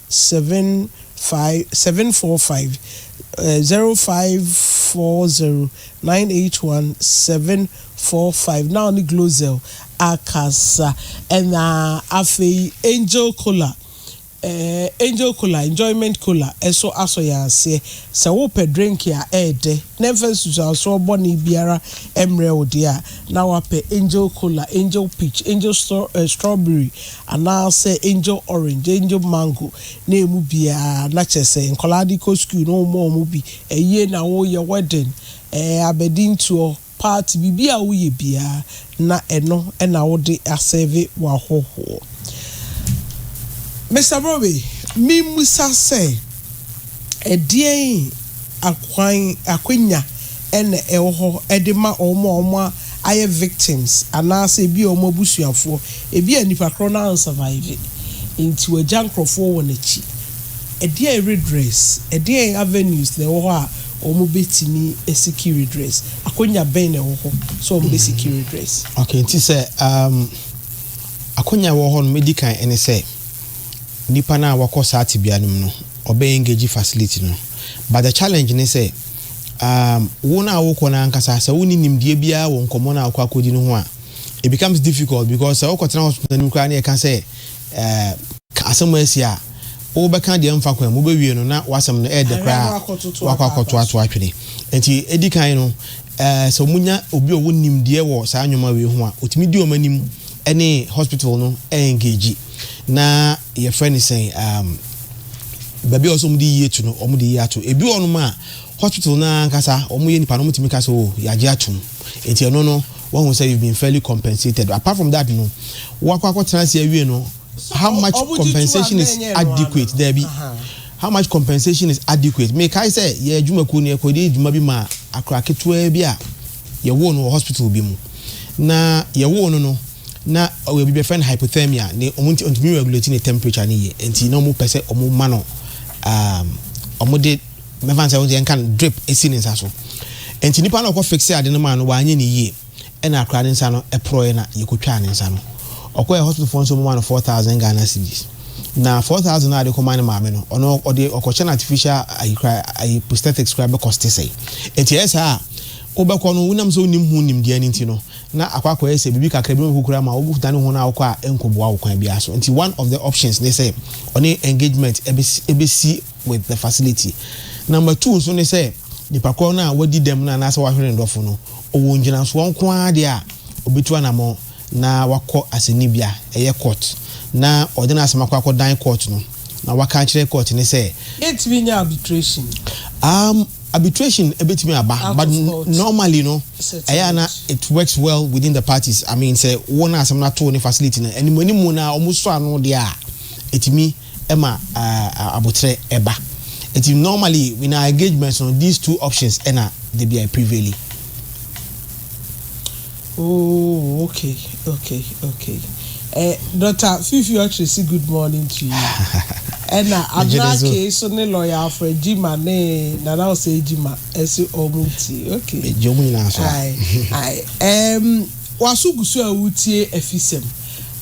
seven five seven four five zero five four zero nine eight one seven four five na ɔne Glozell akasa ɛna afei Angel Cola ɛɛ Angel Cola Enjoyment Cola ɛso asɔ yɛn aseɛ sɛ wopɛ drink a ɛɛdɛ. na ɛmfa nsusuansoɔ bɔne biara mmrɛ wo deɛ a, na woapɛ Angel Cola, Angel Peach, Angel Strawberry, anaasɛ Angel Orange, Angel Mango, na ɛmu biara, na kyerɛ sɛ nkwadaa de kɔ sukuu no woma wɔn bi, ayie na woreyɛ, wedding, ɛɛ, abadintoɔ, party, biribiara a woyɛ biara, na ɛno na wode asɛɛve w'ahɔhoɔ. Mister Brobbey, memmisa sɛ ɛdeɛn akwan, akwanya na ɛwɔ hɔ de ma wɔn a wɔayɛ victims anaasɛ ebi a wɔn abusuafoɔ, ebi a nipa korɔ no ansurvive nti wagya nkorɔfoɔ wɔ n'akyi. Ɛdeɛn redress, ɛdeɛn avenues na ɛwɔ hɔ a Wɔbetumi asiki redress. Akwanya bɛn na ɛwɔ hɔ sɛ wɔbesiki redress? Okay, nti sɛ um, akwanya a ɛwɔ hɔ no, medi kan ɛne sɛ nipa no a wakɔ saa tebea no mu no, ɔbɛ engage facility no. But the challenge ne sɛ um, wo no a wokɔ no ankasa, sɛ wonni nimdeɛ biara wɔ nkɔmmɔ no a wokɔ akɔdi no ho a, it becomes difficult because sɛ wokɔtena hospital no mu koraa na yɛka sɛ Ɛɛ. Ka asɛm a asi a wobɛka deɛ mfa kwan mu, wobɛwie no na w'asɛm no ɛɛdɛ koraa a woakɔ akɔtoatoa atwene. Enti ɛdi kan no, ɛɛ sɛ wɔnya obi a ɔwɔ nimdeɛ wɔ saa nnoɔma wei ho a, ɔtumi di wɔn anim ɛne hospital no ɛɛngegyi na yɛfrɛ no sɛn ɛɛm baabi a ɛwɔ sɛ wɔde yie to no, wɔde yie ato. Ɛbi wɔ hɔnom a hospital no ara ankasa wɔyɛ nnipa no wɔtumi ka sɛ oo yɛagye atom. Enti ɛno no. wahu sɛ you've been fairly compensated apart from that no wakɔ akɔtena ase awie no how much compensation is adequate daabi how much compensation is adequate mekae sɛ yɛ adwumakuo no yɛkɔde adwuma bi ma akora ketewaa bi a yɛwoo no wɔ hospital bi mu na yɛwoo no no na ɔyɛ bi bɛfrɛ no hypothermia ne ɔmo nti ɔntumi regulate ne temperature ne yie nti na ɔmo pɛ sɛ ɔmo ma no um, ɔmo de Mɛfa no sɛ, wohu sɛ yɛnka no drip si ne nsa so. Enti nipa no a ɔkɔ fixee ade no maa no, wanyɛ no yie, ɛna akwadaa no nsa no porɔeɛ na yɛkɔtwaa ne nsa no. Ɔkɔeɛ hospital foɔ nso wɔmaa no four thousand Ghana cedis. Na four thousand no a yɛde kɔmaa ne maame no, ɔno ɔde ɔkɔkyɛ no artificial ayi koraa, ayi prosthetics koraa bɛkɔste sɛe. Enti ɛyɛ saa a, wobɛkɔ no, wonam sɛ wonim ho nimdeɛ no nti no, na akɔ akɔyɛ sɛ biribi kakra bi na ɔbɛkɔ kura ma wo, wodane ho no a wokɔ a ɛnkɔboa wo kwan biara so. Enti one of the options ne sɛ ɔne engagement bɛsi, bɛsi. with the facility. Number two nso ne sɛ nipa korɔ no a wadi dɛm no anaasɛ wahwere ne dɔfo no, ɔwɔ ngyinasoɔ nko ara deɛ a ɔbɛtu anamɔn na wakɔ asɛnnibea, ɛyɛ court, na ɔde n'asɛm akɔ akɔdan court no na waka akyerɛ court no sɛ. Yɛntumi nyɛ arbitration? Um, arbitration ɛbɛtumi aba Out but of court normally no ɛyɛ a na settlement. it works well within the parties. I mean sɛ wo na asɛm no ato wo ne facility no animuanimu na wɔsɔ ano deɛ a ɛtumi ma aboterɛ ba. Nti normally in our engagements no these two options na da biara prevaili. Oh, okay, okay, okay. Eh, Dr. Fifi Okyeresi, good morning to you. Ɛna Abena Kee so ne lawyer afọ Ejima ne Nana Ose Ejima ɛsi ɔmo ti. Okay. Eji ɔmo nyinaa so. Ayi, ayi. Ɛm, waso gusu a wutie afisɛm.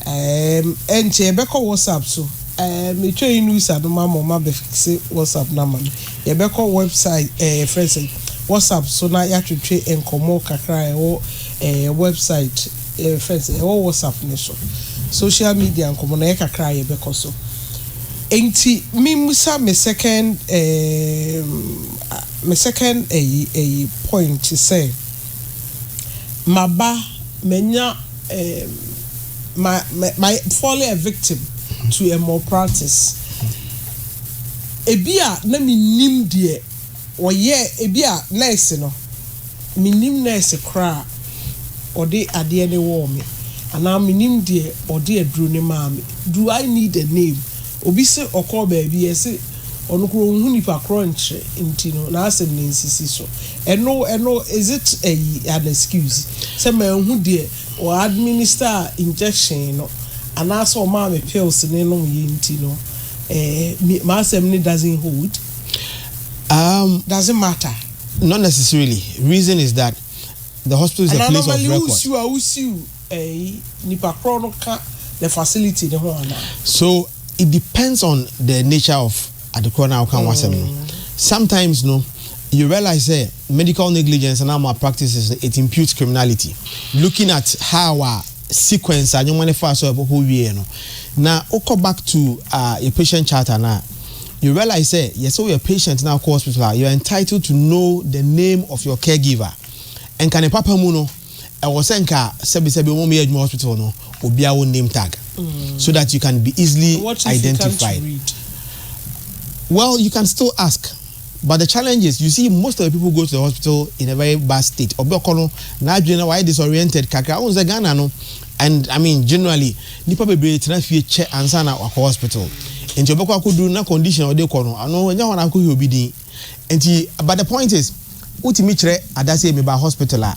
Eeemm ɛnkyɛ yɛbɛkɔ WhatsApp so eeemm metwa yi nusa no ma ma ɔma bɛ fixe WhatsApp no ama me yɛbɛkɔ website ɛɛ yɛfrɛ sɛ WhatsApp so na yatwetwe nkɔmɔ kakra a ɛwɔ ɛɛ website ɛɛ yɛfrɛ sɛ ɛwɔ WhatsApp no so social media nkɔmɔ no ɛyɛ kakra a yɛbɛkɔ so ɛnti me musa me second eeemm me second ɛyi ɛyi point sɛ maba manya Um, my, my, my falling a victim to a malpractice. Ebi a na menim deɛ ɔyɛ, ebi a nurse no, menim nurse koraa ɔde adeɛ ne wɔɔ me, anaa menim deɛ ɔde aduro ne maa me. Do I need a name? Obi se ɔkɔɔ baabi, yɛse. Ɔno koraa onhu nipa korɔ nkyerɛ nti no n'asɛm no nsisi so. Ɛno ɛno is it ayi an excuse sɛ manhu deɛ ɔ administer injection no anaasɛ ɔmaa me pills no nom yɛ nti no ɛɛ m'asɛm no doesn't hold? Um. Doesn't matter. Not necessarily. Reason is that the hospital is a place of record. Anaa normally wo siw a wo siw. Eyi nipa korɔ no ka the facility no ho anaa? So it depends on the nature of ade korɔ no a woka ho asɛm no. Sometimes no you realise sɛ medical negligence anaa wɔn practices no it imputes criminality looking at how a sequence a nnoɔma no faa so a ɛkɔ hɔ wieɛ no. Na wokɔ back to ah yɛ patient charter no a you realise sɛ yɛ sɛ woyɛ patient na wokɔ hospital a you are entitled to know the name of your caregiver. Nka ne papa mu no. ɛwɔ sɛ nka sɛbi sɛbi wɔn a wɔyɛ adwuma wɔ hospital hɔ no obiara wɔ name tag so that you can be easily identified well you can still ask but the challenge is you see most of the people go to the hospital in a very bad state ɔbɛ ɔkɔ no n'adwene na wayɛ disoriented kakra wɔn sɛ ghana no and i mean generally nipa bebree tena fie kyɛ ansa na wakɔ hospital nti ɔbɛkɔ akɔduru na condition a ɔde kɔ no ano ɛnyɛ hɔ na akɔhwɛ obi din. Nti but the point is wotumi kyerɛ ada sɛ meba hospital a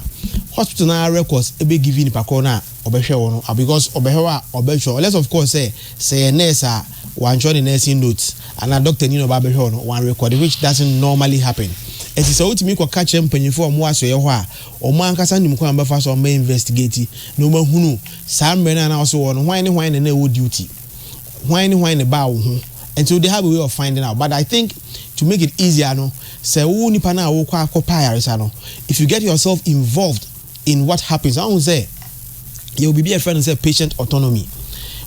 hospital no ara records bɛ give nipa korɔ no a ɔbɛhwɛ wo no because ɔbɛhwɛ wo a ɔbɛtwerɛ unless of course sɛ sɛ yɛ nurse a wantwerɛ ne nursing notes anaa doctor ni na ɔba abɛhwɛ wo no wan record which doesn't normally happen nti sɛ wotumi kɔka kyerɛ mpanyinfoɔ a wɔn wɔ asoɛeɛ hɔ a wɔn ankasa nim kwan a wɔbɛfa so a wɔbɛ investigate na wɔahunu saa mmerɛ no a na ɔse wɔ no hwan ne hwan na na ɛwɔ duty hwan ne hwan na ɛbaa wo ho nti they have a way of finding out but I think to make it easier no sɛ wo nipa no a wokɔ akɔ pa ayaresa no if you get yourself involved in what happens ahu sɛ yɛwɔ biribi a ɛfrɛ no sɛ patient autonomy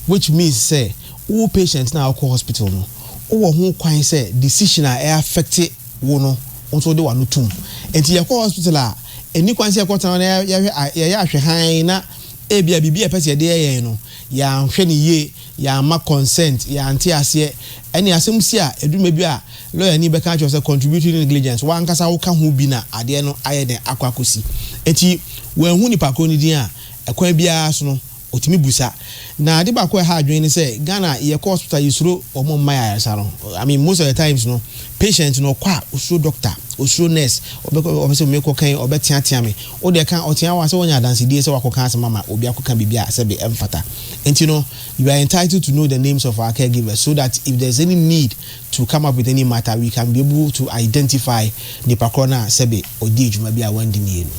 which means sɛ wo patient no a wokɔ hospital no wowɔ ho kwan sɛ decision a ɛyɛ affect wo no nso de wano tum nti yɛkɔ hospital a ɛni kwan sɛ yɛkɔ tena na yɛyɛ ahwɛ hann na ebia biribi a ɛpɛ sɛ yɛde yɛ yɛn no yɛanhwɛ no yie, yɛamma consent, yɛante aseɛ, ɛne asɛm si a ɛduru baabi a lɔyani bɛka akyerɛ wo sɛ contributory negligence, w'ankasa woka ho bi na adeɛ no ayɛ dɛn akɔ akɔsi. Enti wanhu nipa korɔ no din a, ɛkwan biara so no ɔtumi bu sa. Na ade baako a ɛha adwene ne sɛ, Ghana yɛkɔ hospital yɛsuro wɔn mma yɛn ayaresa no. I mean most of the times no patient no ɔkɔ a ɔsuro doctor, ɔsuro nurse, ɔbɛkɔ ɔpɛ sɛ mekɔ kan ɔbɛteatea me, Wo deɛ ka ɔteaa wo a sɛ woanya adansedie sɛ woakɔka asɛm ama obi akɔka biribi a sɛbe ɛmfata. Enti no, you are entitled to know the names of our caregivers so that if there is any need to come up with any matter we can be able to identify nipa korɔ no a sɛbe ɔdii dwuma bi a wandi nie no.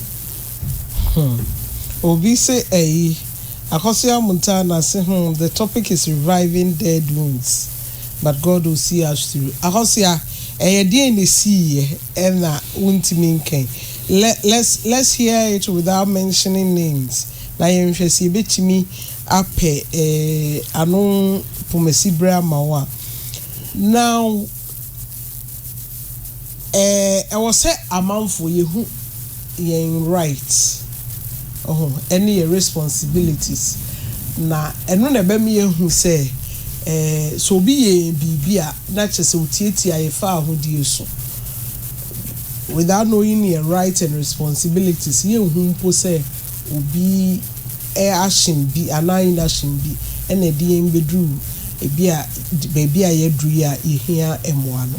Hmm. Obi se ayi, Akosua Amuntah Nase hmm the topic is reviving dead wounds but God will see us through. Akosua, ɛyɛ deɛn na ɛsiiɛ? na wontumi nkan. Let's let's hear it without mentioning names na yɛnhwɛ sɛ yɛbɛtumi apɛ ano pomasibere ama wo a. Now, ɛwɔ sɛ amanfoɔ yɛhu. yɛn right oho ɛne yɛn responsibilities na ɛno na ɛbɛma yɛahu sɛ eh sɛ obi yɛ yɛn biribi a na kyerɛ sɛ otiatia yɛn faahodie so without knowing yɛn right and responsibilities yɛnhu mpo sɛ obi eh action bi anaa inaction bi ɛna ɛde yɛn bɛduru ebi a baabi a yɛaduru yi a yɛhia mmoa no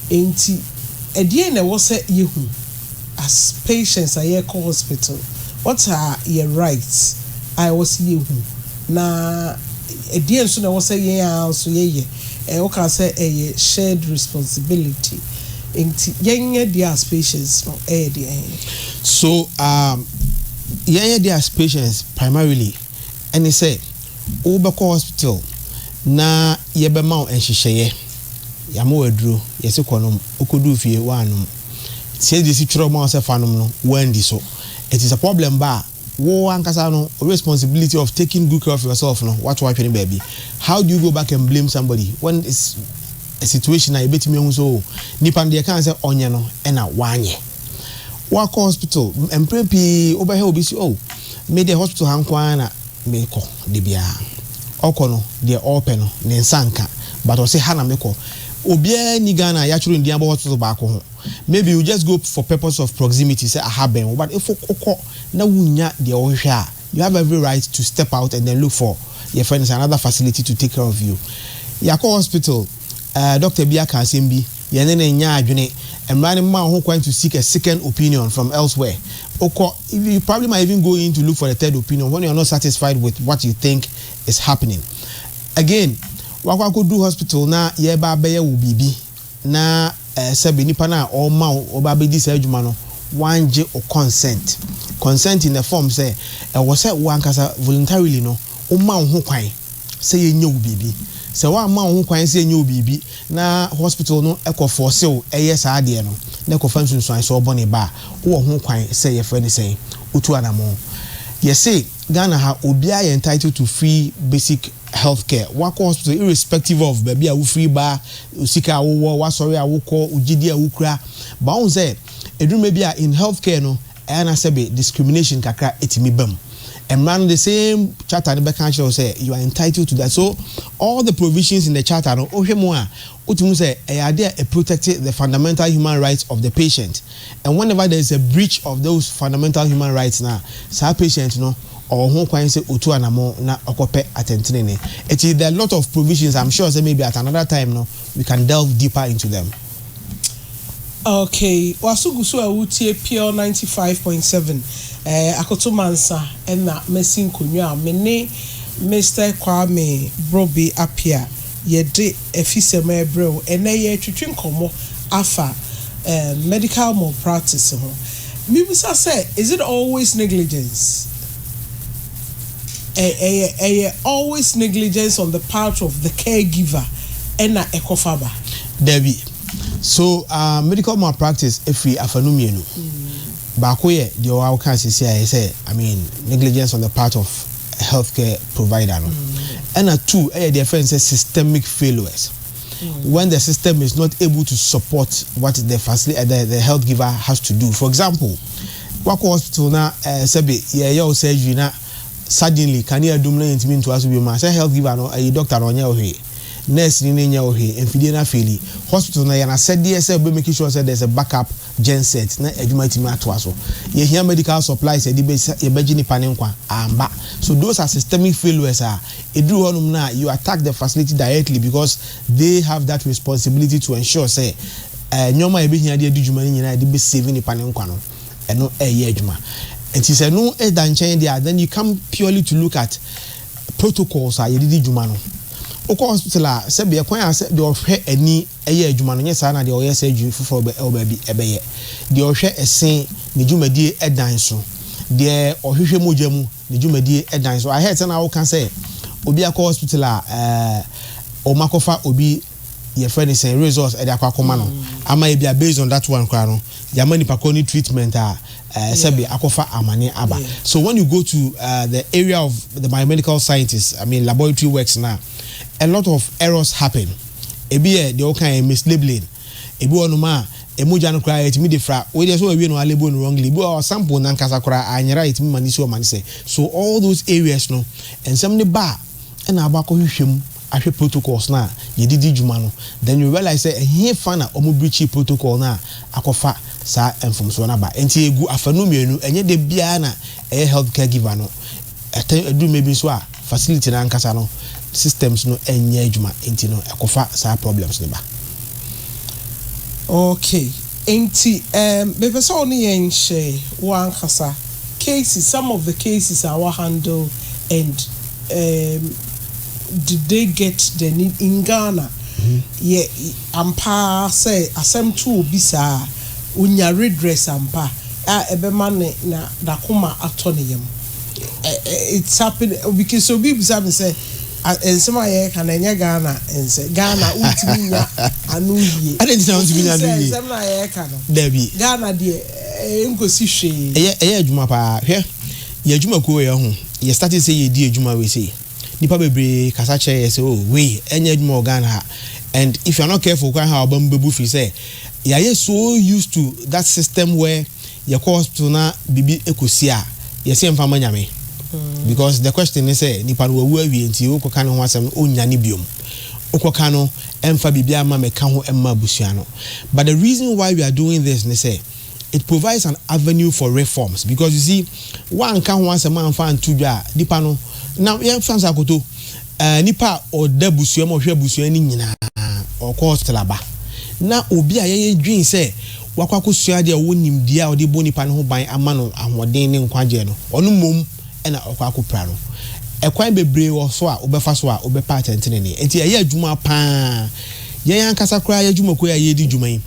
enti ɛdeɛn na ɛwɔ sɛ yɛhu as patients a yɛkɔ hospital what are yɛ rights a ɛwɔ sɛ yɛhu na ɛdeɛn nso na ɛwɔ sɛ yɛn ara nso yɛyɛ ɛ wokaa sɛ ɛyɛ shared responsibility nti yɛn ɛdeɛ as patients no ɛyɛ deɛ he? So um yɛn ɛdeɛ as patients primarily ɛne sɛ wobɛkɔ hospital na yɛbɛma wo nhyehyɛeɛ. Yɛama wo aduro, yɛse kɔ nom, wokɔduu fie, woannom. Sɛdeɛ yɛsi twerɛ ma wo sɛ fa nom no, woanndi so. Enti sɛ problem ba a, wo ankasa no, wo responsibility of taking good care of yourself no, woato atwene baabi. How do you go back and blame somebody when it's a situation a yɛbɛtumi ahu sɛ oh, nipa no deɛ ɛkae sɛ ɔnyɛ no ɛna wanyɛ. Woakɔ hospital, mprɛ pii wobɛhwɛ obi se oh, me deɛ hospital ha nko ara na mekɔ da biara ɔkɔ no deɛ ɔpɛ no ne nsa nka but ɔse ha na mekɔ obiara ni Ghana a yɛatwerɛ ndin abɔ hospital baako ho maybe you just go for purpose of proximity sɛ aha bɛn wo but if wokɔ na wonnya deɛ wohwehwɛ a you have every right to step out and then look for yɛfrɛ no sɛ another facility to take care of you yɛakɔ hospital eh, doctor bi aka asɛm bi, yɛn ne no nyɛ adwene. Mmara no mma wo ho kwan to seek a second opinion from elsewhere. Wokɔ, you probably might even go in to look for the third opinion when you are not satisfied with what you think is happening. Again, woakɔ akɔduru hospital na yɛreba abɛyɛ wo biribi na eh, sɛbe nipa no a ɔrema wo ɔba abɛdi saa adwuma no wangye wo consent. Consent in the form sɛ ɛwɔ sɛ wo ankasa voluntarily no woma wo ho kwan sɛ yɛnyɛ wo biribi. Sɛ woamma wo ho kwan sɛ ɛnyɛ wo biribi na hospital no kɔ force wo yɛ saa adeɛ no na ɛkɔfa nsunsuansoɔ bɔne ba a, wowɔ ho kwan sɛ yɛfrɛ no sɛn? Wotu anamɔn. Yɛse Ghana ha obiara yɛ entitled to free basic health care. Woakɔ hospital irrespective of baabi a wofiri ba, sika a wowɔ, w'asɔre a wokɔ, wo gyedie a wokura. But wohu sɛ ɛduru mmerɛ bi a in health care no Ɛyɛ a na sɛbe discrimination kakra tumi ba mu. Mmara no the same charter no bɛka akyerɛ wo sɛ you are entitled to that. So all the provisions in the charter no wohwɛ mu a wotumi hu sɛ ɛyɛ ade a ɛ protect the fundamental human rights of the patient and whenever there is a breach of those fundamental human rights no a saa patient no ɔwɔ ho kwan sɛ otu anamon na ɔkɔpɛ atɛntenene. Ɛti there are lot of provisions, I'm sure sɛ maybe at another time no we can delve deeper into them. Okay waso gu so a wo tie pure ninety five point seven eh akoto mansa ɛna mɛsi nkonwa a me ne Mister Kwame Brobe Appiah yɛ de afisɛm ɛrebrɛ wo ɛnɛ yɛ retwetwe nkɔmɔ afa eh medical malpractice ho me bisa sɛ is it always negligence eh ɛyɛ ɛyɛ always negligence on the part of the caregiver ɛna ɛkɔfa ba. Dabi So medical malpractice firi afanu mmienu, baako yɛ deɛ ɔwɔ a wokaa seesei a ɛyɛ sɛ I mean negligence on the part of health care provider no, ɛna two ɛyɛ deɛ yɛfrɛ no sɛ systemic failures when the system is not able to support what the facility the, the health giver has to do. For example, wakɔ hospital na eh, sɛbe yɛyɛ wo surgery na suddenly kanea dum na yɛntumi ntoa so bio ma sɛ health giver no ayi doctor no ɔnyɛ wo hwee, nurse ni no nyɛ wo hwee, mfidie no afeeli. Hospital no ɛyɛ n'asɛdeɛ sɛ ɔbɛ make sure sɛ there's a back up gen set na adwuma atumi atoa so. Yɛhia medical supplies a yɛde bɛ yɛbɛgye nnipa no nkwa, amba. So those are systemic failures a ɛduru hɔnom no a you attack the facility directly because they have that responsibility to ensure sɛ nneɛma a yɛbɛhia de adi dwuma no nyinaa yɛde bɛ save nnipa no nkwa no. ɛno ɛyɛ adwuma nti sɛ ɛno ɛda nkyɛn deɛ a then you come purely to look at protocols a yɛde di dwuma no wokɔ hospital a sɛbi ɛkwan a sɛ deɛ ɔhwɛ ani ɛyɛ adwuma no nyɛ saa na deɛ ɔyɛ surgery foforɔ bɛ ɛwɔ baabi ɛbɛyɛ deɛ ɔhwɛ ɛse ne dwumadie ɛdan so deɛ ɔhwehwɛ mogya mu ne dwumadie ɛdan so I heard sɛ na woka sɛ obi akɔ hospital a ɛɛ wɔn akɔfa obi. yɛfrɛ no sɛn results ɛde akɔ akɔma no ama ebi a based on that one koraa no yɛama nipa koro ne treatment a ɛɛ sɛbi akɔfa amane aba so when you go to uh, the area of the biomedical scientists i mean laboratory works na a lot of errors happen ebi yɛ deɛ ɔka yɛ mislabeling ebi wɔ nom a emogya no koraa yɛtumi de fra wei deɛ sɛ wɔawie no alebo no wrongly ebi wɔ sample nankasa koraa anyera yɛtumi ma ne si ɔma ne sɛ so all those areas no nsɛm ne ba a na abakɔhwehwɛ mu ahwɛ protocols no a yɛde di dwuma no, then you realize sɛ ɛhefa na wɔn breachee protocol no a akɔfa saa mfomsoɔ no aba. Nti ɛgu afanu mmienu, ɛnyɛ da biara na ɛyɛ health care giver no, ɛtɛn ɛduru mmerɛ bi nso a facility no ankasa no systems no nnyɛ adwuma nti no ɛkɔfa saa problems no ba. Okay, nti ɛɛm mepɛ sɛ wo ne yɛn hyɛ wo ankasa. cases, some of the cases a wa handle and um did they get the need in Ghana yɛ ampa ara sɛ asɛm to obi saa a onya redress ampa a ɛbɛma ne na n'akoma atɔ ne yam ɛ ɛ it's happen because obi bisa me sɛ a nsɛm a yɛreka no ɛnyɛ Ghana nsɛ Ghana wontumi nya ano yie Adɛn nti na wontumi nya ano yie? nsɛm no a yɛreka no Dabi. Ghana deɛ ɛnkɔsi hwee. Ɛyɛ ɛyɛ adwuma paa hwɛ yɛ adwumakuo wei ɔho yɛ started sɛ yɛdi adwuma wei sei nipa bebree kasa kyerɛ yɛ sɛ oh wei ɛnyɛ adwuma wɔ Ghana ha and if you are not careful koraa ha waba mu bɛbu firi sɛ yɛayɛ so used to that system where yɛkɔ hospital na biribi ɛkɔsi a yɛsɛ yɛmfa ma nyame because the question ne sɛ nipa no wawu awie nti wokɔka ne ho asɛm no ɔnnyane biom. Wokɔka no ɛmfa biribiara mma me ka ho mma abusua no but the reason why we are doing this ne sɛ it provides an avenue for reforms because you see woanka ho asɛm amfa anto dwa a nipa no na yɛmfa no sɛ akoto eh, nipa a ɔda abusua mu ɔhwɛ abusua no nyinaa ɔkɔ hospital aba na obi a yɛyɛ dwen sɛ wakɔ akɔsua adeɛ a ɔwɔ nimdeɛ a ɔde bɔ nipa no ho ban ama no ahoɔden ne nkwagyeɛ no ɔno mmom na ɔkɔ akɔpira no. Ɛkwan bebree wɔ so a wobɛfa so a wobɛpa atɛntenenee. Enti ɛyɛ adwuma pa ara. Yɛn ankasa koraa yɛn adwumakuo a yɛredi dwuma yi,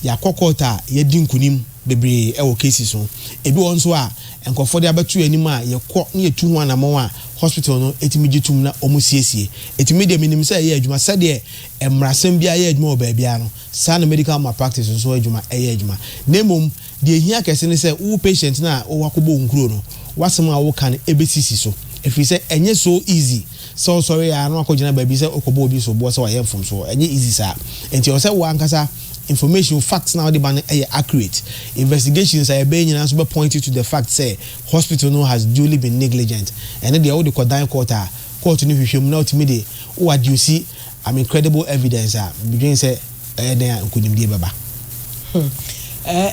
yɛakɔ kɔɔto a yɛadi nkunim bebree wɔ cases ho. Ebi wɔ hɔ nso a, nkurɔfoɔ de abɛto yɛn anim a yɛkɔ na yɛtu ho anammɔn a hospital no tumi gye tom na wɔsiesie. Enti me deɛ menim sɛ ɛyɛ adwuma. Sɛdeɛ mmarasɛm biara yɛ adwuma wɔ baabiara no, saa ara na medical malpractice nso adwuma yɛ adwuma. Na mmom, Deɛ ɛhia kɛse ne sɛ wo patient no a wowɔ akɔbɔ wo nkuro no, w'asɛm a woka no ɛbɛsisi so. Ɛfiri sɛ ɛnyɛ so easy sɛ wosɔre ara na wakɔgyina baabi sɛ wokɔbɔ obi soboɔ sɛ wayɛ mfomsoɔ. Ɛnyɛ easy saa. Nti ɛwɔ sɛ wo ankasa information, wo facts no a wode ba no yɛ accurate. Investigations a ɛbɛyɛ nyinaa nso bɛ point you to the fact sɛ hospital no has duly been negligent. Ɛno deɛ wode kɔ dan court a, court no hwehwɛ mu na wotumi de wo adduce I'm incredible evidence a midwen sɛ ɛyɛ dɛn a nkonimdie bɛba. Hmm.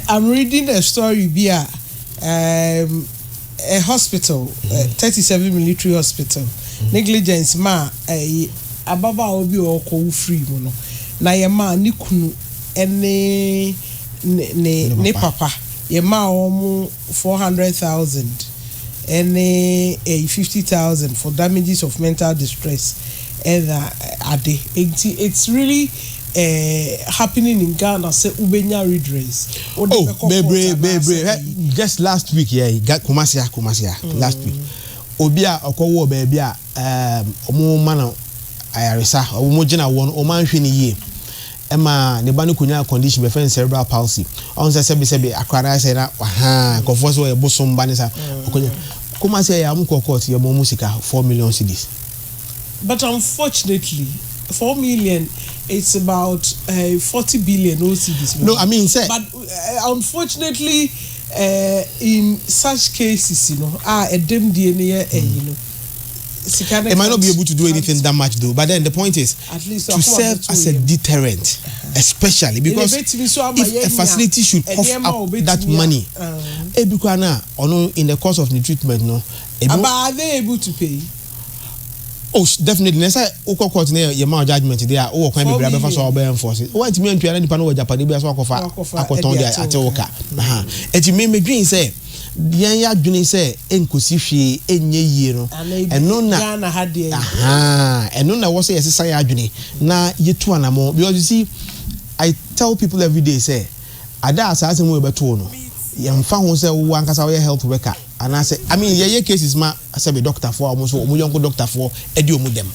I'm reading a story bi a um, a hospital, mm-hmm. 37 military hospital, mm-hmm. negligence ma eh, ababaawa bi a ɔkɔ wo free mu no na yɛ ma ne kunu ne ne papa yɛ ma wɔn four hundred thousand ne ɛyi fifty thousand for damages of mental distress ɛna ade nti it's really eh, happening in Ghana sɛ wobɛnya redress wode oh, bɛkɔ bebree bebree just last week yɛ yeah, Kumasi a Kumasi a mm. last week obi a ɔkɔwɔ baabi a ɔmo um, ma no ayaresa ɔmo gyina wɔn ɔmo anhwɛ ne yie. ɛma ne ba no konyaa condition bɛfrɛ no cerebral palsy ɔn sɛ sɛbi sɛbi akora no ayɛ sɛ na wahaa nkurɔfoɔ sɛ ɔyɛ bosom ba ne sa ɔkonya Kumasi ɛyɛ a wɔn kɔɔ court yɛ ma wɔn sika four million cedis. But unfortunately four million it's about uh, forty billion or cedis. No, I mean sɛ. But uh, unfortunately uh, in such cases you know, ah ɛdɛm die no yɛ ɛyi no. It might not be able to do anything that much though, but then the point is to serve as a deterrent, uh-huh. especially because if a facility should cough up that money, uh-huh. in the course of the treatment, no. But are they able to pay? oh definitely na ɛsɛ wokɔ court na yɛ ma judgement de a wowɔ kwan bebree abɛfa so a wɔbɛyɛ enforce wɔntumi antua na nipa no wɔ japadeɛ bi a so akɔfa akɔtɔn de ate wo ka ɛti me medwen sɛ yɛn adwene sɛ ɛnkɔsi hwee ɛnyɛ yie no, ɛno na ɛno na ɛwɔ sɛ yɛsesa yɛn adwene na yɛtu anamɔ because you see I tell people every day sɛ ada a saa asɛm yɛbɛtoo no yɛmfa ho sɛ wo ankasa woyɛ health worker anaasɛ I mean yɛyɛ cases ma sɛbe dɔktafoɔ a wɔn nso wɔn yɔnko dɔktafoɔ ɛdi wɔn dɛm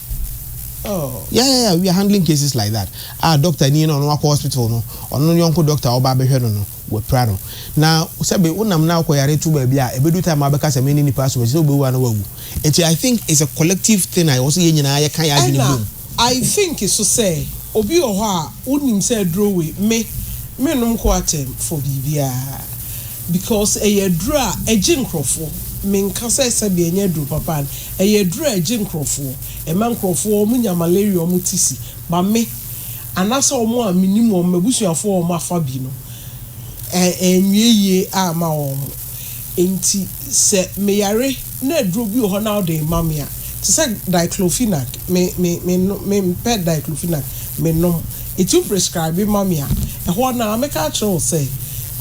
Oh. Yeah, yeah, yeah, we are handling cases like that. Ah, doctor, ni no, no, hospital, no, no, yonko doctor, oba, behwe, no, no. Wapira no. Na sɛbe wonam na wokɔyare to baabi a, ɛbɛdu time a wobɛka sɛ me ne nipa asom akyi sɛ wobɛwu anaa woawu. Nti I think it's a collective thing a ɛwɔ sɛ yɛn nyinaa yɛka yɛn adwene Ɛna bom. I think nso sɛ obi wɔ hɔ a wonim sɛ aduro wei me mennom coartem for biribiara because ɛyɛ aduro a ɛgye nkorɔfoɔ. Menka sɛ sɛbe ɛnyɛ aduro papa no, ɛyɛ aduro a ɛgye nkorɔfoɔ, ɛma nkorɔfoɔ wɔnya malaria wɔn ti si. But me Anaasɛ wɔn a minnim wɔn, m'abusuafo a wɔafa bi no, anwie yiye amma wɔn. Enti sɛ meyare na aduru bi wɔ hɔ na wode rema me a, te sɛ diclofenac, me, me, mennom, mempɛ diclofenac, mennom. Enti wo prescribe ma me a, ɛhɔ ara no ara mɛka akyerɛ wo sɛ,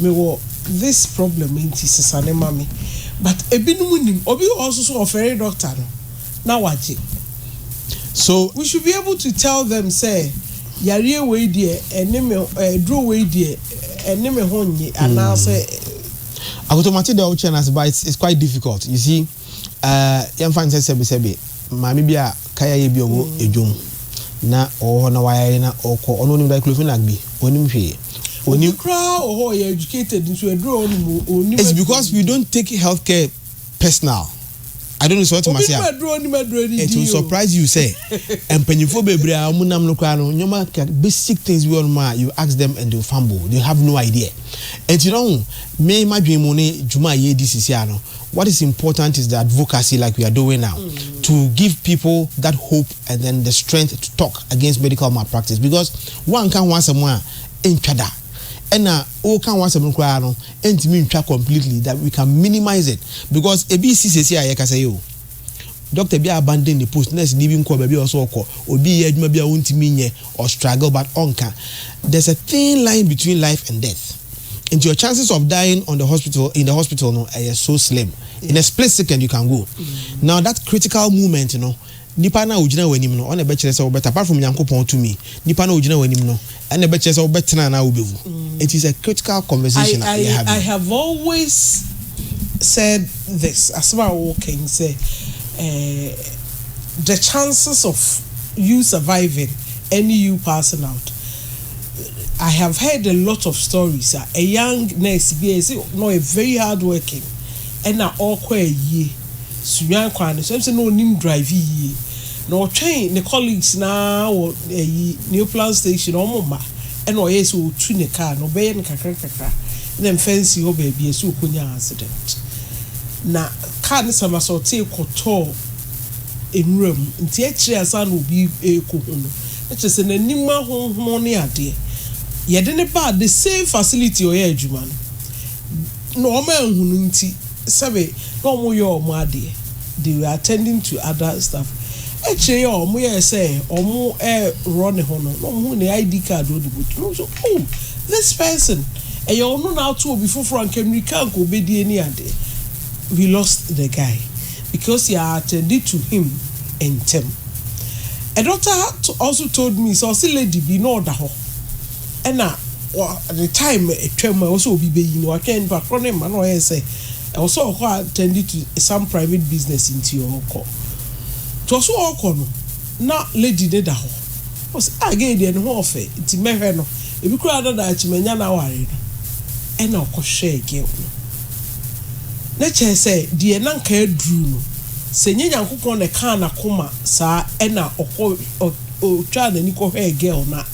mewɔ this problem, enti sesa no ma me. But ebinom nnim. Obi wɔ hɔ nso so ɔfɛre dɔkta no. na wagye. So we should be able to tell them sɛ yareɛ wei deɛ ɛne me aduro wei deɛ ɛne me ho nye anaasɛ. Akoto mate deɛ wokyerɛ no ase but it's, it's quite difficult you see uh, yɛmfa ne sɛ sɛbesɛbe maame bi a kaya yɛ bi ɔwɔ mm. edwom na ɔwɔ hɔ na wayare na ɔkɔ ɔno onim diclofenac bi onim hwee onim koraa ɔhɔ yɛ educated nso aduro ɔnim onim it's because we don't take healthcare personal I don't know sɛ ɔte mase a it will surprise you sɛ mpanyinfoɔ bebree a wɔn nam no koraa no nneɛma basic things bi wɔ nom a you ask them and they will fumble they have no idea ɛti na ho me madwene mu ne dwuma a yɛredi sisi ano what is important is the advocacy like we are doing now mm. to give people that hope and then the strength to talk against medical malpractice because one can once a month in chada and woka ho asɛm no koraa no ntumi ntwa completely that we can minimize it because ebi resi seesei a yɛkasa yi o. Doctor bi abandon ne post, nurse ni bi nkɔɔ baabi a ɔwɔ sɛ ɔkɔ, obi reyɛ adwuma bi a ontumi nyɛ, ɔstruggle but ɔnka. There's a thin line between life and death. Nti your chances of dying on the hospital, in the hospital no ɛyɛ so slim. In a split second you can go. Now that critical moment no Nipa no a ogyina w'anim no, ɔna ɛbɛkyerɛ sɛ wobɛtena. Apart from Nyankopɔn tumi, nipa no a ogyina w'anim no, ɛna ɛbɛkyerɛ sɛ wobɛtena anaa wobɛwu. It is a critical conversation a yɛha bi. I have always said this, asɛm a woka yi sɛ the chances of you surviving ɛne you passing out. I have heard a lot of stories a, a young nurse bi a yɛse na ɔyɛ very hard working ɛna ɔkɔ ayie Suyan kwan no so. Ɛm sɛ na ɔnim drive yie. Na ɔtwɛn ne colleagues no ara wɔ ɛyi Neoplan station no wɔn mma ɛna ɔyɛ sɛ ɔretu ne car no. Ɔbɛyɛ no kakra kakra na mfɛnsee hɔ baabi ɛsɛ ɔkɔnya accident. Na car no somersaultee kɔtɔɔ nwura mu. Nti akyire ansa na obi rekɔhu no na kyerɛ sɛ n'anim ahonhono ne adeɛ. Yɛde no baa the same facility a ɔyɛ adwuma no. Na wɔn anhu no nti, sɛbe na wɔyɛ wɔn adeɛ, they were attending to other stuff. Akyire yi a wɔyɛɛ sɛ wɔreworɔ ne ho no, na wɔhunu ne ID card a ɔde bɔ tuo no, wɔhu sɛ, oh, this person, ɛyɛ ɔno na ato obi foforɔ a anka mmirika anka ɔbɛdie ne adeɛ. We lost the guy because yɛ attended to him ntɛm. A doctor also told me sɛ ɔse lady bi na ɔda hɔ, ɛna wɔ ne time a ɛtwa mu a ɛwɔ sɛ obi bɛyi no watwɛn nipa korɔ no mma na ɔyɛ sɛ ɛwɔ sɛ ɔkɔ attend to some private business nti ɔkɔ nti ɔso ɔkɔ no na lady ne da hɔ ɔsɛ ah gay deɛ ne ho ɔfɛ nti mɛhwɛ no ebi koraa na daakye manya no aware no ɛna ɔkɔhwɛɛ girl no na kyɛɛ sɛ deɛ na nka aduru no sɛ nyɛ Nyankopɔn na ɛkaa n'akoma saa ɛna ɔkɔ ɔtwaa n'ani kɔhwɛɛ girl no a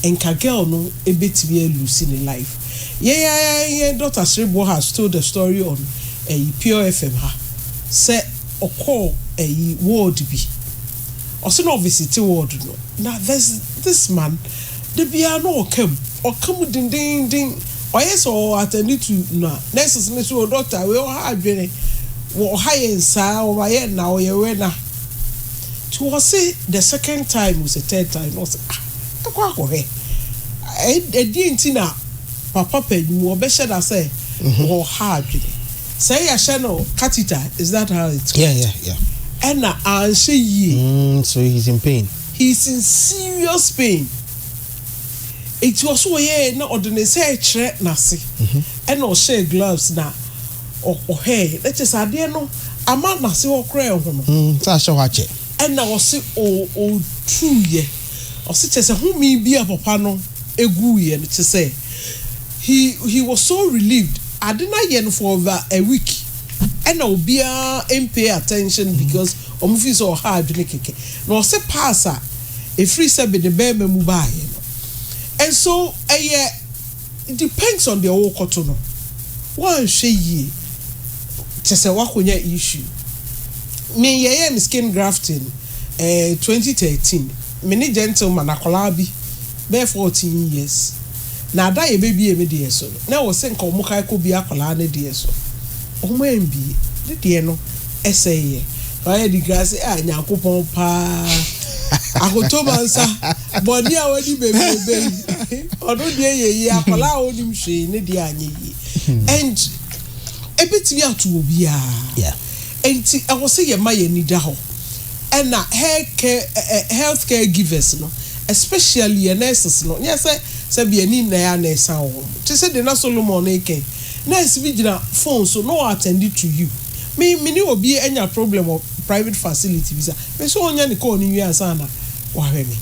nka girl no betumi a lose ne life. Yɛn ara yɛn daughter Sereboɔ has told the story on ɛyi Pure FM ha sɛ ɔkɔɔ ɛyi ward bi, ɔse na ɔvisite ward no na there's this man da biara na ɔka mu, ɔka mu dendennden, ɔyɛ sɛ ɔ attend to na nurses no se o doctor wei ɔha adwene, ɔha yɛn saa, ɔma yɛn na, ɔyɛ wɛ na. Nti ɔse the second time was a third time na ɔse ah mɛkɔ akɔhwɛ ɛdeɛn nti na papa panyin mu ɔbɛhyɛ da sɛ ɔha adwene sɛ yɛhyɛ no catheter is that how it's called? Yeah, yeah, yeah. ɛna anhyɛ yie mm, so he's in pain he's in serious pain nti ɔso ɔyɛɛ na ɔde ne nsa ɛkyerɛ n'ase ɛna ɔhyɛ gloves na Ɔhwɛ yɛ, na kyerɛ sɛ adeɛ no ama n'ase hɔ koraa ɛhono. Sɛ ahyɛ hɔ akyɛ. Ɛna ɔse ɔtuiɛ. Ɔse kyerɛ sɛ home bi a papa no guiɛ no kyerɛ sɛ he he was so relieved. Ade no ayɛ no for over a week ɛna obiara mpay attention because wɔn feel sɛ ɔha adwene kɛkɛ. Na ɔse pass a ɛfiri sɛbe ne bɛɛma mu baeɛ no nso ɛyɛ. It depends on deɛ worekɔto no. Woanhwɛ yie kyerɛ sɛ woakɔnya issue. Me yɛyɛɛ me skin grafting ɛɛ twenty thirteen me ne gentleman akwadaa bi bɛyɛ fourteen years na ada yɛbɛbie me deɛ so no na ɛwɔ sɛ nka wɔn kae kɔbie akwadaa no deɛ so wɔn ambie ne deɛ no ɛsɛeɛ. Wayɛ degree ase ah Nyankopɔn paa Ahotomansa. Bɔne a wadi bebrebe yi, ɔno deɛ yɛ yie. Akwadaa a ɔnim hwee ne deɛ anyɛ yie. Hmm. And ebetumi ato obiara. Nti ɛwɔ sɛ yɛma yɛn ani da hɔ. Ɛna health care givers no, especially yɛn nurses no, nyɛ sɛ sɛ bi ani nna yɛ nurse a wɔn. Te sɛ deɛ na Solomon ne kɛn. Nurse bi gyina phone so na ɔattend to you. Me me ne obi anya problem wɔ private facility bi sa. Mepɛ sɛ ɔnya ne call no wie ansa na wahwɛ me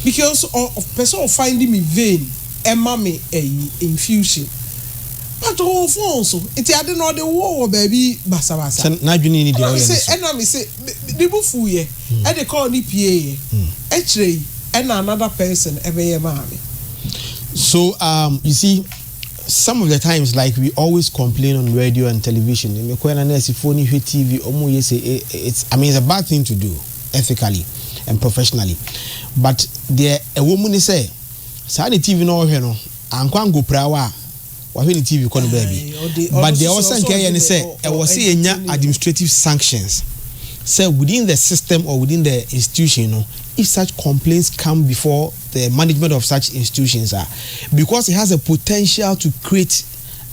because ɔpɛ sɛ ɔ find me vein ɛma me ɛyi infusion but ɔwɔ phone so nti ade no ɔde wɔ wɔ baabi basabasa. Sɛ n'adwene nni deɛ ɔyɛ no so. Ɛna me se ne bo fuiɛ ɛde call no pieeɛ akyire yi ɛna another person ɛbɛyɛ maa me. So um you see Some of the times like we always complain on radio and television me kɔ na nurse foɔ ni hwɛ TV ɔmo yɛ se it's I mean it's a bad thing to do ethically and professionally but deɛ ɛwɔ mu ne sɛ saa ne TV na ɔhwɛ no ankɔ anko pira wa wahwɛ ne TV kɔ ne baabi but deɛ ɔsɛ nka ɛyɛ ne sɛ ɛwɔ se yɛ nya administrative sanctions sɛ within the system or within the institution no if such complaints come before the management of such institutions a because it has a potential to create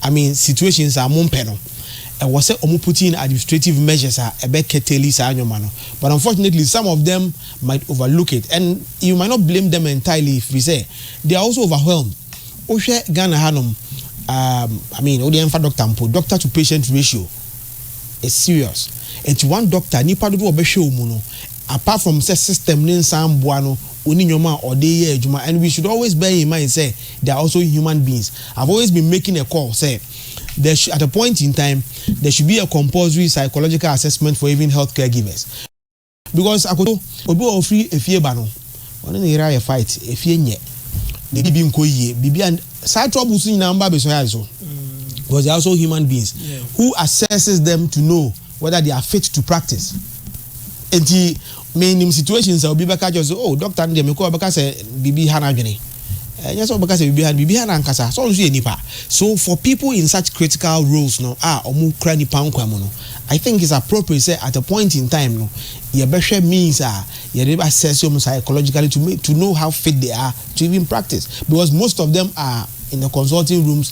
I mean situations a mo mpɛ no ɛwɔ sɛ ɔmo put in administrative measures a ɛbɛ curtail saa nneɛma no but unfortunately some of them might overlook it and you might not blame them entirely firi sɛ they are also overwhelmed wohwɛ Ghana hanom um, I mean wode ɛmfa doctor mpo doctor to patient ratio is serious nti one doctor nipa dodoɔ ɔbɛhwɛ ɔmu no Apart from sɛ system no nsan mboa no ɔnni nnoɔma a ɔde yɛ adwuma and we should always bear in mind sɛ they are also human beings. I've always been making a call sɛ there should at a point in time there should be a compulsory psychological assessment for even health caregivers. Because akoto obi wɔ hɔ ɔfiri efie ba no ɔne ne yere ayɛ fight efie nyɛ ne biribi nkɔ yie biribi a saa troubles nyinaa ɔmba abɛsua yɛ ade so because they are also human beings who assesses them to know Whether they are fit to practice nti me nim situations a obi bɛka kyerɛ sɛ oh doctor no deɛ mekɔ ɔbɛka sɛ biribi ha n'adwene ɛnyɛ sɛ ɔbɛka sɛ biribi ha no biribi ha n'ankasa sɛ ɔno nso yɛ nipa so for people in such critical roles no a ɔmo kura nipa nkwa mu no I think it's appropriate sɛ at a point in time no yɛbɛhwɛ means a yɛde assess ɔmo psychologically to, make, to know how fit they are to even practice because most of them are in the consulting rooms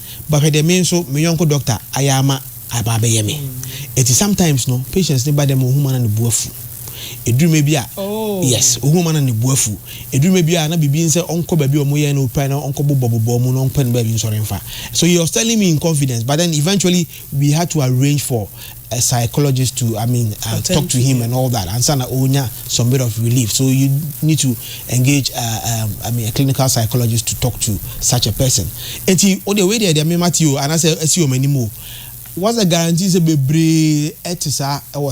but hwɛ dɛ me nso me yɔnko doctor ayɛ ama aba abɛyɛ me eti sometimes no patients no ba dɛ ma ohum a na ne bo afu eduru mɛ bi a yes ohum a na ne bo afu eduru mɛ bi a na biribi nsɛ ɔnkɔ baabi a ɔmo yɛ no pɛ na ɔnkɔ bobɔ bobɔ ɔmo na ɔmpɛ no baabi nsɔre mfa so he was telling me in confidence but then eventually we had to arrange for a psychologist to I mean uh, Attend talk to, to him yeah. and all that and sana onya some bit of relief so you need to engage uh, um, I mean a clinical psychologist to talk to such a person enti o de wei deɛ deɛ mema te o anaasɛ asi wɔn anim o what's the guarantee sɛ bebree ɛte saa ɛwɔ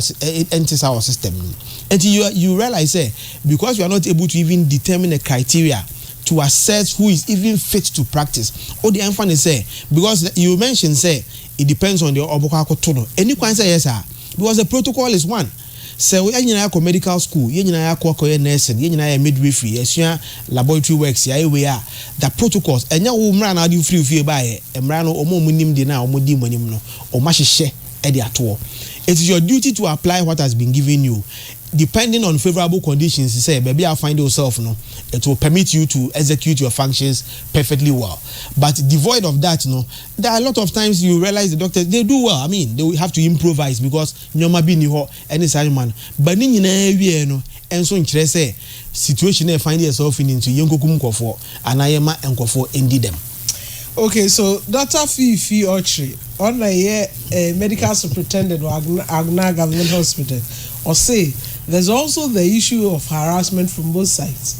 ɛnte saa wɔ system no enti you you realize sɛ because you are not able to even determine a criteria to assess who is even fit to practice o de ɛnfa ne sɛ because you mention sɛ It depends on deɛ ɔbɛkɔ akɔto no. Ɛnni kwan sɛ ɛyɛ saa because the protocol is one. Sɛ yɛn nyinaa yɛakɔ medical school, yɛn nyinaa yɛakɔ akɔyɛ nursing, yɛn nyinaa yɛ midwifery, yɛasua laboratory works, yɛayɛ wei a, the protocols, ɛnyɛ wo mmara na wode wo firi wo fie baeɛ. Mmara no, wɔn a wɔnim deɛ no a wɔdi mo anim no, wɔahyehyɛ de ato hɔ. It is your duty to apply what has been given you depending on favourable conditions sɛ baabi a wo find yourself no, it will permit you to execute your functions perfectly well. But devoid of that no, There are a lot of times you realize the doctors they do well I mean they will have to improvise because nneɛma bi nni hɔ ɛne saa nneɛma no but ne nyinaa awieɛ no nso nkyerɛ sɛ situation no a find yourself in nti yɛnkɔkum nkurɔfoɔ anaa yɛmma nkurɔfoɔ ndi dɛm. Okay so Doctor Fiifi Ɔkyere ɔno na ɛyɛ eh, medical superintendent wɔ Agona, Agona Government Hospital ɔse there's also the issue of harassment from both sides.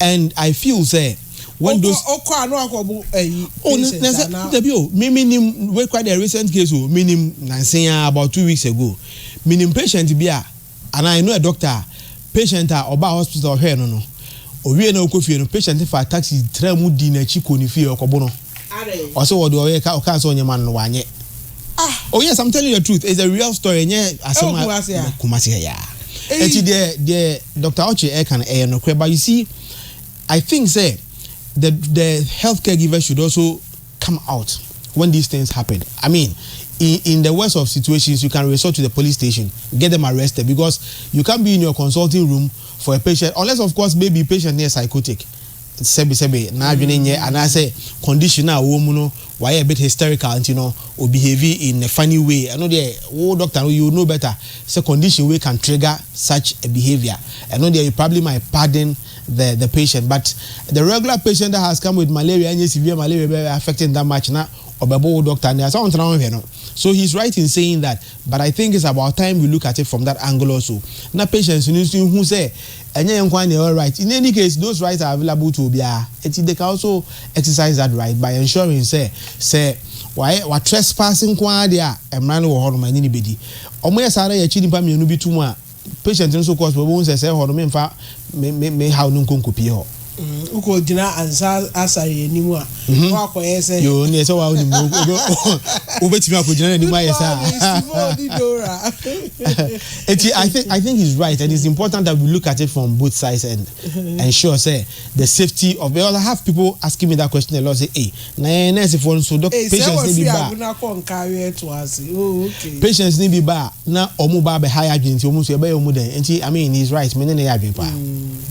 And I feel sɛ when those. Ɔkɔ ɔkɔ a na wakɔ bu ɛyi. Oh na na sɛ dabi o mi mi nim wei kura deɛ recent case o mi nim nansen ya about two weeks ago mi nim patient bi a ana I know a doctor a patient a ɔbaa hospital ɔhwɛɛ no no owie na ɔkɔ fie no patient fa taxi tra mu di n'akyi kɔ ne fie ɔkɔ bo no ɔsɛ ɔde ɔyɛ ka ɔkaa sɛ ɔnyɛ ma no no wanyɛ. Ah, oh yes, I'm telling you the truth. It's a real story. Nye asem a kumasi ya. Kumasi ya. Eti de de Dr. Ochi e kan e no kre but you see I think say the the healthcare giver should also come out when these things happen. I mean, in, in the worst of situations, you can resort to the police station, get them arrested because you can't be in your consulting room for a patient unless of course maybe patient near psychotic. Sebi sebi na adwene nyɛ anaasɛ condition a wɔn mu no wayɛ a bit hysterical nti no o behave in a funny way ɛno deɛ wo doctor no you would know better sɛ condition wei can trigger such a behaviour ɛno deɛ you probably might pardon the the patient but the regular patient that has come with malaria ɛnyɛ severe malaria bɛ affect him that much na ɔbɛbo wo doctor no sɛ ɔntena ɔnhwɛ no so he is right in saying that but I think it's about time we look at it from that angle also na patients no nso hu sɛ Ɛnyɛ yɛn nko ara na yɛwɔ right. In any case, those rights are available to obiara. Enti they can also exercise that right by ensuring sɛ sɛ wayɛ, wa trespass nko ara deɛ a, mmara no wɔ hɔ nom a ɛne no bɛdi. Wɔyɛ saa na yɛkyi nnipa mmienu bi to mu a, patient no so kɔɔ hospital, wɔbɛhu sɛ sɛ hɔ no, memfa me, me, me haw no nkɔ nkɔpie hɔ. Wokɔ gyina ansa asare anim a mhm. na wakɔyɛ sɛ yoo ne ɛsɛ wa wonim no wobɛtumi akɔgyina n'anim ayɛ saa eti I think I think he's right and it's important that we look at it from both sides and ensure say the safety of because I have people asking me that question a lot say hey Na yɛn nɛɛsefoɔ no nso, dɔk, patients no bi ba a, patients no bi ba a, na wɔn ba abɛha yɛn adwene nti wɔn nso yɛbɛyɛ wɔn dɛn? Nti I mean he is right, me ne no yɛ adwene paa.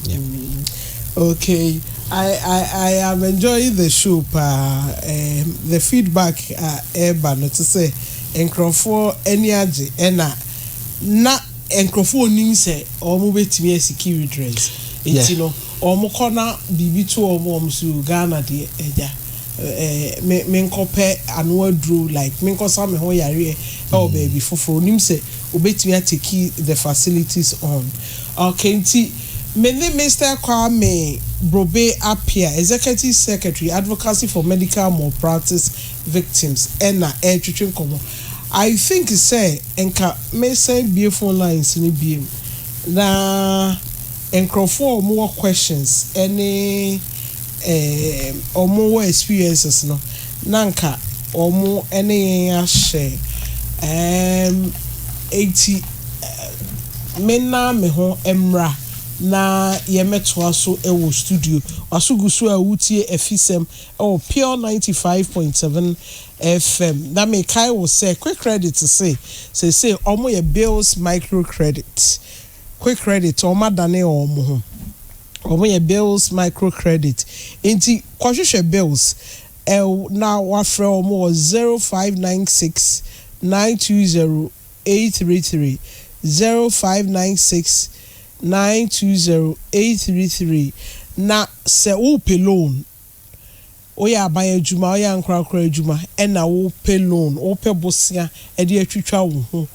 Yeah. Okay, I, I, I am enjoying the show paa. Um, the feedback a ɛreba no te sɛ nkurɔfoɔ ani agye ɛna na nkurɔfoɔ onim sɛ wɔn bɛtumi asi key redress nti no. Wɔn kɔ na biribi to wɔn wɔn so o Ghana deɛ agya eh me nkɔ pɛ ano aduro like me nkɔ sa me ho yareɛ ɛwɔ baabi foforɔ onim sɛ obetumi a take the facilities on ok nti me ne Mister Kwame Brobe Appiah Executive Secretary Advocacy for Medical Malpractice Victims ɛna ɛretwetwe nkɔmɔ I think sɛ nka me sɛn bue phone lines no biom na. Nkorɔfoɔ a wɔn wɔ questions ne ɛɛm wɔn wɔ experiences no na nka wɔn ne yɛn ahyɛ ɛɛm enti me na me ho mmra na yɛn mɛtoa so wɔ studio waso gu so a wotie afisɛm wɔ pure ninety five point seven FM na me kae wo sɛ quick credit se seesei wɔn yɛ bills micro credit. Quick credit wɔn adane wɔn ho wɔn yɛ bills micro credit nti kɔ hwehwɛ bills ɛw na wafrɛ wɔn wɔ zero five nine six nine two zero eight three three zero five nine six nine two zero eight three three na sɛ wopɛ loan Woyɛ aban adwuma, woyɛ ankorankoro adwuma na wopɛ loan, wopɛ bosea de atwitwa wo ho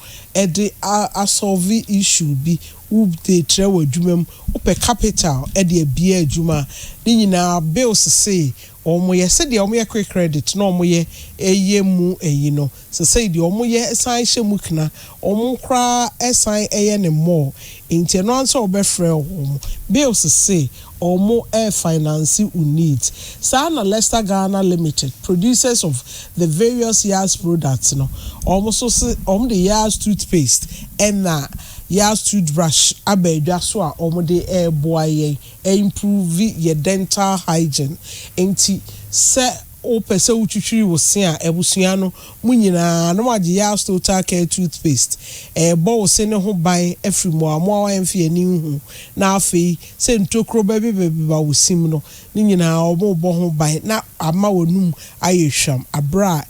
de a solve issue bi, wode trɛ w'adwuma mu, wopɛ capital de abue adwuma a, ne nyinaa bills sei wɔyɛ sɛdeɛ wɔyɛ quick credit na wɔyɛ ɛyɛ mu ayi no, Sesei deɛ ɔmo yɛ san hyɛ mu kena, ɔmo koraa san yɛ no more, nti ɛno ara ne sɛ ɔbɛfrɛ ɔmo bills se ɔmo refinance wo needs. Saa na Lester Ghana Limited, producers of the various Yaz products no, ɔmo nso se ɔmo de Yaz toothpaste ɛna Yaz toothbrush aba adwa so a ɔmo de reboa yɛn a improve yɛ dental hygiene. Nti sɛ. Wopɛ sɛ wotwitwiri wo se a, abusua no mu nyinaa na wɔagye Yars Total Care Toothpaste. Ɛrebɔ wo se no ho ban afiri mmoamoawa a ɛmfe ani nhu, na afei sɛ ntokuro bɛbebabeba wo sim no, ne nyinaa wɔrebɔ ho ban na ama w'anum ayɛ hwam berɛ a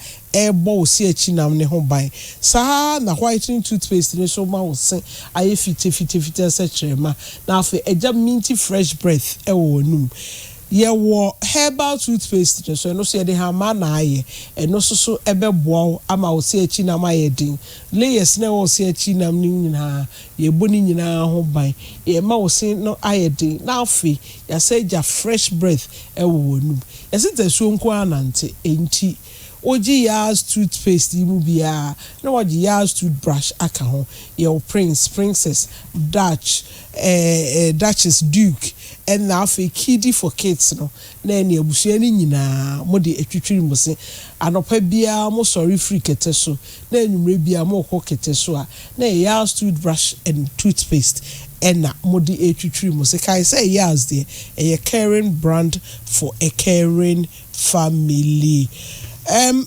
ɛrebɔ wo se akyi nam no ho ban. Saa ara na Whitening Toothpaste no nso ma wo se ayɛ fitafitafita sɛ kyerɛma, na afei agya minty fresh breath wɔ w'anum. Yɛwɔ herbal toothpaste no so, ɛno nso yɛde hamaa na ayɛ. Ɛno nso so bɛboa wo ama wo se akyi nam ayɛ den. Layers no a ɛwɔ wo se akyi nam no nyinaa, yɛbɔ ne nyinaa ho ban. Yɛma wo se no ayɛ den na afei yɛasan agya fresh breath wɔ w'anum. Yɛse tasuo nko ara na nte, enti wogye Yaz toothpaste yi mu biara na woagye Yaz toothbrush aka ho. Yɛwɔ Prince, Princess, Dutch, Duchess, Duke, ɛna afei Kidi for kids no, na ɛne abusua no nyinaa mode atwitwiri mo se. Anɔpa biara mosɔre firi kɛtɛ so, na anwummerɛ biara morekɔ kɛtɛ so a, na ɛyɛ Yaz toothbrush and toothpaste ɛna mode retwitwiri mo se. Kae sɛ Yaz deɛ, ɛyɛ caring brand for a caring family. Ɛm.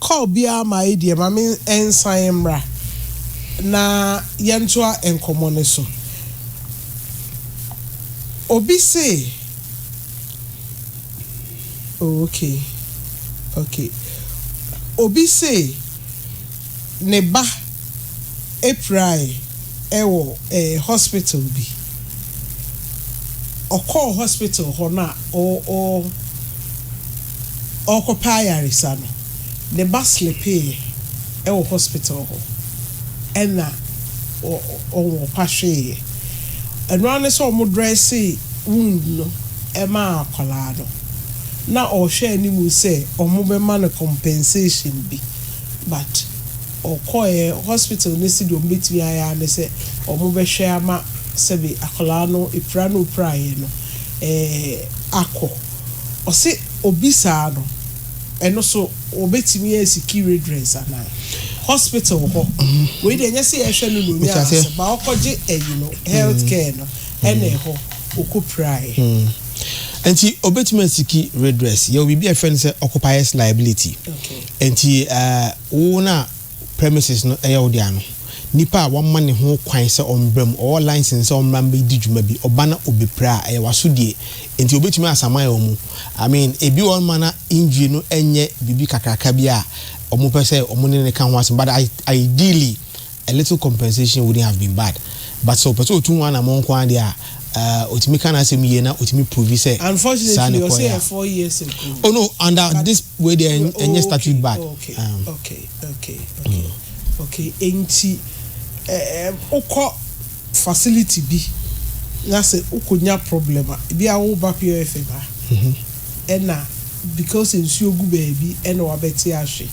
Call biara maye deɛ ma me nsan mmra na yɛntoa nkɔmmɔ no so. Obi se Oh okay okay Obi se ne ba pirae wɔ hospital bi. Ɔkɔɔ hospital hɔ no a ɔɔ. ɔrekɔpɛ ayaresa no, ne ba slepeeɛ wɔ hospital hɔ ɛna ɔpa hweeɛ. Ɛno ara ne sɛ wɔdrɛsee wound no maa akwadaa no na ɔrehwɛ anim sɛ wɔbɛma no compensation bi but ɔkɔeɛ hospital no se deɛ wɔbɛtumi ayɛ ara ne sɛ wɔbɛhwɛ ama sɛbe akwadaa no pira no ɔpiraeɛ no akɔ. Ɔse obisaa no ɛno so wɔbɛtumi asiki redress anaa? Hospital hɔ wei deɛ ɛnyɛ sɛ yɛhwɛ no na ɔnya asɛm ba ɔkɔgye ayi no health care no ɛna ɛhɔ ɔkɔ piraeɛ. Nti ɔbɛtumi asiki redress yɛwɔ biribi a yɛfrɛ no sɛ occupiers liability nti wo no a premises no yɛ wo dea no, nipa a wɔama ne ho kwan sɛ ɔmbra mu, ɔwɔ license sɛ ɔmbra mbɛdi dwuma bi, ɔba na ɔbɛpira a, ɛyɛ w'asodie. Nti ɔbɛtumi asaman wɔn mu. I mean, ebi wɔ hɔ nom a na injury no nyɛ biribi kakraka bi a wɔpɛ sɛ wɔn ne no ka ho asɛm, but ideally, a little compensation wouldn't have been bad. But sɛ ɔpɛ sɛ ɔtu ho anamɔn nko ara deɛ a, Uh otumi ka n'asɛm yie na otumi prove sɛ saa ne kɔɛ a. Oh no under this way deɛ ɛnyɛ statute bad. Okay okay okay okay okay enti wokɔ facility bi na sɛ wokɔnya problem a ebi a woba POFM a ɛna. Because nsuo gu baabi ɛna wabɛte ahwe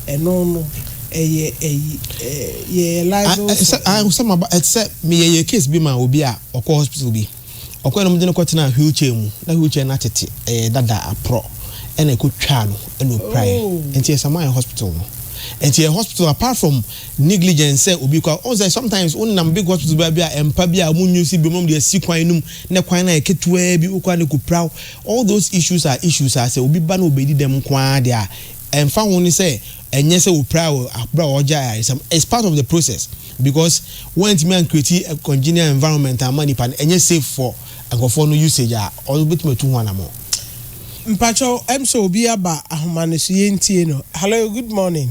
ɛno no ɛyɛ ɛyi yɛyɛ liable for ɛyi. Ayi sɛ maba ɛte sɛ me yɛ yɛ case bi ma obi a ɔkɔ hospital bi ɔkɔ na ɔmo de no kɔ tenaa wheel chair mu na wheel chair no atete ɛyɛ dada aprɔ ɛna ɛkɔ twaa no ɛna ɔpiraeɛ ɛnti yɛ sama yɛ hospital no ɛnti yɛ hospital apart from negligence sɛ obi kɔ a ɔhu sɛ sometimes wo nam big hospital baa bi a ɛmpa bi a ɔmo nyi wo si biom na ɔmo de asi kwan no mu na kwan no ayɛ ketewa bi wokɔ a na ɛkɔ pira wo All those issues are issues a sɛ obi ba na obedi dɛm nko ara de a, ɛmfa ho ne sɛ ɛnyɛ sɛ opiraa wɔ bere a ɔregye ayaresɛm. It's part of the process because wɔantumi ancreati a congenial environment amma nipa no, ɛnyɛ safe for nkurɔfoɔ no usage a ɔbɛtumi atu ho anamɔn. Mpakyɛw ɛm sɛ obi aba ahoma no so yɛntie no. Hello good morning.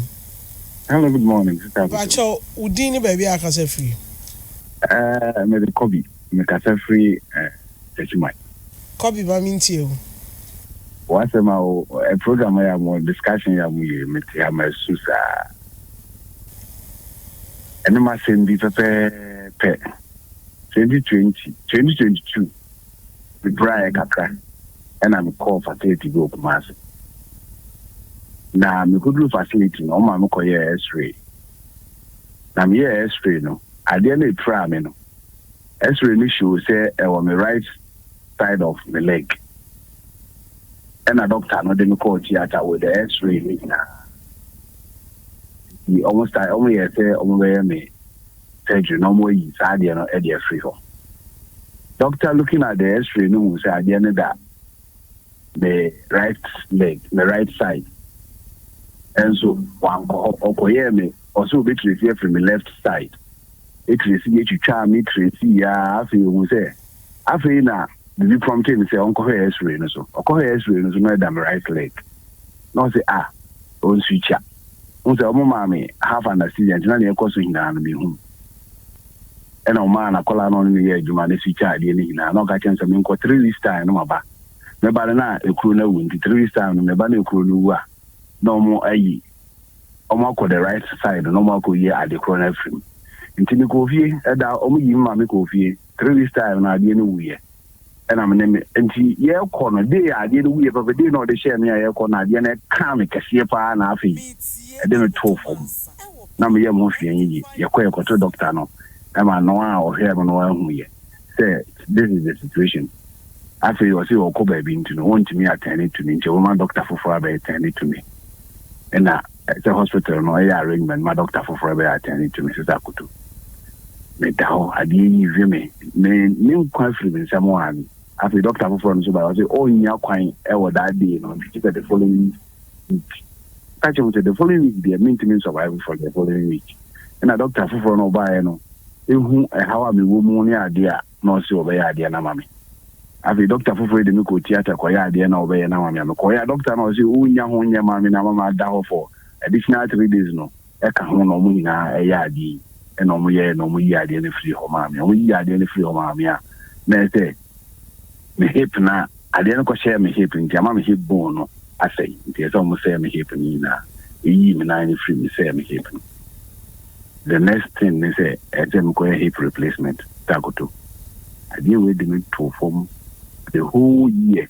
Hello good morning sister Akoto. Mpakyɛw wo din ne baabi a akasa firi. Ɛɛ mede kɔ bi. Mekasa firi Techiman. Copy ma me ntie o. W'asɛm a o ɛ program yɛ a mo discussion yɛ a mo yɛ yi me te ha ma su saa. Ɛne m'asɛm bi pɛpɛɛpɛ. Twenty twenty, twenty twenty two me braeɛ kakra ɛna me kɔɔ facility bi wɔ Kumasi. Na me kɔduru facility no ɔma me kɔ yɛɛ x-ray. Na me yɛɛ x-ray no adeɛ no epiraa me no X-ray no show sɛ ɛwɔ me right side of me leg. Ɛna doctor no de me kɔɔ theatre with the X-ray no nyinaa. Nti wɔn start wɔn yɛɛ sɛ wɔn bɛyɛ me surgery na wɔn ayi saa adeɛ no de afiri hɔ. Doctor looking at the X-ray no hu sɛ adeɛ no da me right leg, me right side. Ɛnso wankɔ hɔ, ɔkɔyɛɛ me, ɔsɛ obɛtrace afiri me left side. Tracy yɛ twitwaa me Tracy aa afei ohun sɛ afei na biribi prompte no sɛ ɔnkɔhwɛ x-ray no so ɔkɔhwɛ x-ray no so na ɛda me right leg na ɔse ah ɔnswitwa ho sɛ ɔmo maa me half anesthesia nti na nea ɛkɔ so nyinaa no me hu ɛna ɔmaa nakɔla na ɔne no yɛ adwuma ne switwa adeɛ no nyinaa na ɔka kyɛm sɛ menkɔ three weeks time no maba meba no na ekuro no awu nti three weeks time no meba na ekuro no wu a na ɔmo ayi wɔakɔ the right side na wɔakɔyi ade korɔ no afiri mu. Nti mekɔɔ fie, ɛda wɔyii me ma mekɔɔ fie, three weeks time no adeɛ no wuiɛ ɛna me ne me, nti yɛrekɔ no day a adeɛ no wuiɛ pɛpɛ day na ɔde hyɛɛ me a yɛrekɔ no adeɛ no ɛkaa me kɛseɛ paa na afei ɛde me too fam na me yam ho hwee yɛ yie. Yɛkɔ yɛkɔto doctor no ɛma no a ɔhwɛɛ me no anhu yɛ. sɛ this is the situation afei ɔse ɔkɔ baabi nti no wɔntumi atɛne to me nti ɔbɛma dɔkta foforɔ abɛyɛ tɛne to me ɛna sɛ hospital no ɛyɛ arrangement ma dɔkta foforɔ bɛyɛ atɛne to me sɛ sɛ akoto meda hɔ adeɛ yi hwe me me ne nkwa afiri me nsɛm a afei dɔkta foforɔ no so ba ɔse ɔnnya kwan ɛwɔ that day no nti sɛ the following week ɔka kyerɛ mu sɛ the following week deɛ mentumi nsurvive for the following week ɛna doctor foforɔ no ɔbaeɛ no ehu ɛhaw a mewɔ mu ne adeɛ a na ɔse ɔbɛyɛ adeɛ no ama me afei doctor foforɔ yi de me kɔ theatre kɔyɛ adeɛ na ɔbɛyɛ no ama me a mekɔyɛ a doctor na ɔse wonya ho nyɛ ma me na ama maada hɔ for additional three days no ɛka ho na ɔmo nyinaa ɛyɛ adeɛ yi ɛna ɔmo yɛɛ na ɔmo yi adeɛ no firi hɔ maa me ɔmo yi adeɛ no firi hɔ maa me a na ɛsɛ me hip na Adeɛ no kɔhyɛɛ me hip nti ama me hip bone no asɛe nti ɛsɛ sɛ ɔmo sɛɛ me hip no nyinaa. Yɛyii me nan no firi mu sɛɛ me hip no. The next thing ne sɛ ɛsɛ sɛ mekɔyɛ hip replacement sɛ akoto. Adeɛ wei de me too fam the whole year.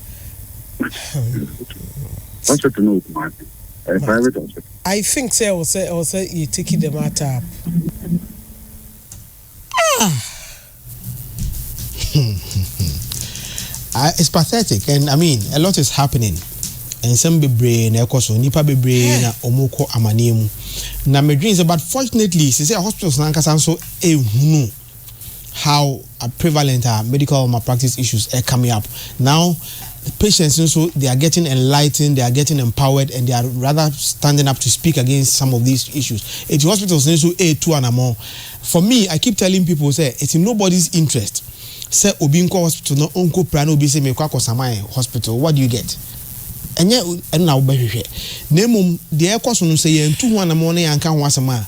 Hospital no wɔ Kumasi. Ɛyɛ private hospital. I think sɛ ɛwɔ sɛ ɛwɔ sɛ yɛ take the matter up. Ah! it's pathetic and I mean a lot is happening. nsɛm bebree na ɛkɔ so nipa bebree na wɔn kɔ amaneɛ mu na medwene sɛ but fortunately sɛ sɛ hospitals nankasa nso ehunu. how prevalent are medical malpractice issues are coming up now patients nso they are getting enlightened they are getting empowered and they are rather standing up to speak against some of these issues eti hospitals nso etu anamɔ for me i keep telling people say it's in nobody's interest sɛ obi nkɔ hospital na onko pra na obi sɛ mekɔ akɔ saman hospital what do you get ɛnyɛ ɛno na wobɛhwehwɛ na mmom deɛ ɛkɔ so no sɛ yɛntu ho anamɔ na yɛanka ho asɛm a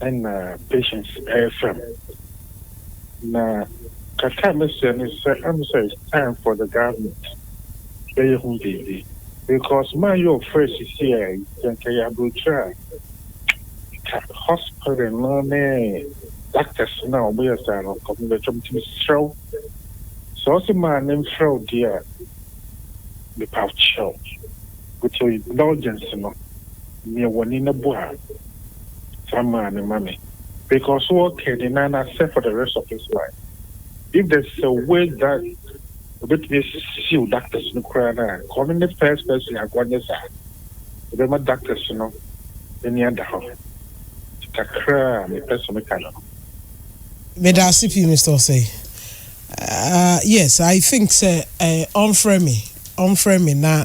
na Patience refrɛ me. Na kakra a mɛsrɛ ne sɛ ɛm sɛ it's time for the government bɛyɛ ho biribi because maa yɛ ɔfrɛ sisi a yi sɛ nka yɛ aburokyire a nka hospital no ne doctors no a wɔn yɛ saa no nka wɔn bɛtwa nti mesrɛ wo sɛ ɔsɛ maa ne mfrɛ wo deɛ a mepa kyɛw with your indulgence no. Neɛ wɔne no bɔ a, saa maa no ma me. Because so wɔ kɛ ne nan no asɛ for the rest of his life. If there's a way that ɔbɛtumi asisiw doctors no koraa no a, nka ɔno ne first person a nka ɔnyɛ saa. Ɛbɛma doctors no ani ada hɔ. Nti kakra a mepɛ sɛ meka no no. Medase pii Mister Osei. Ahh yes I think sɛ ɔmfrɛ me ɔmfrɛ me na.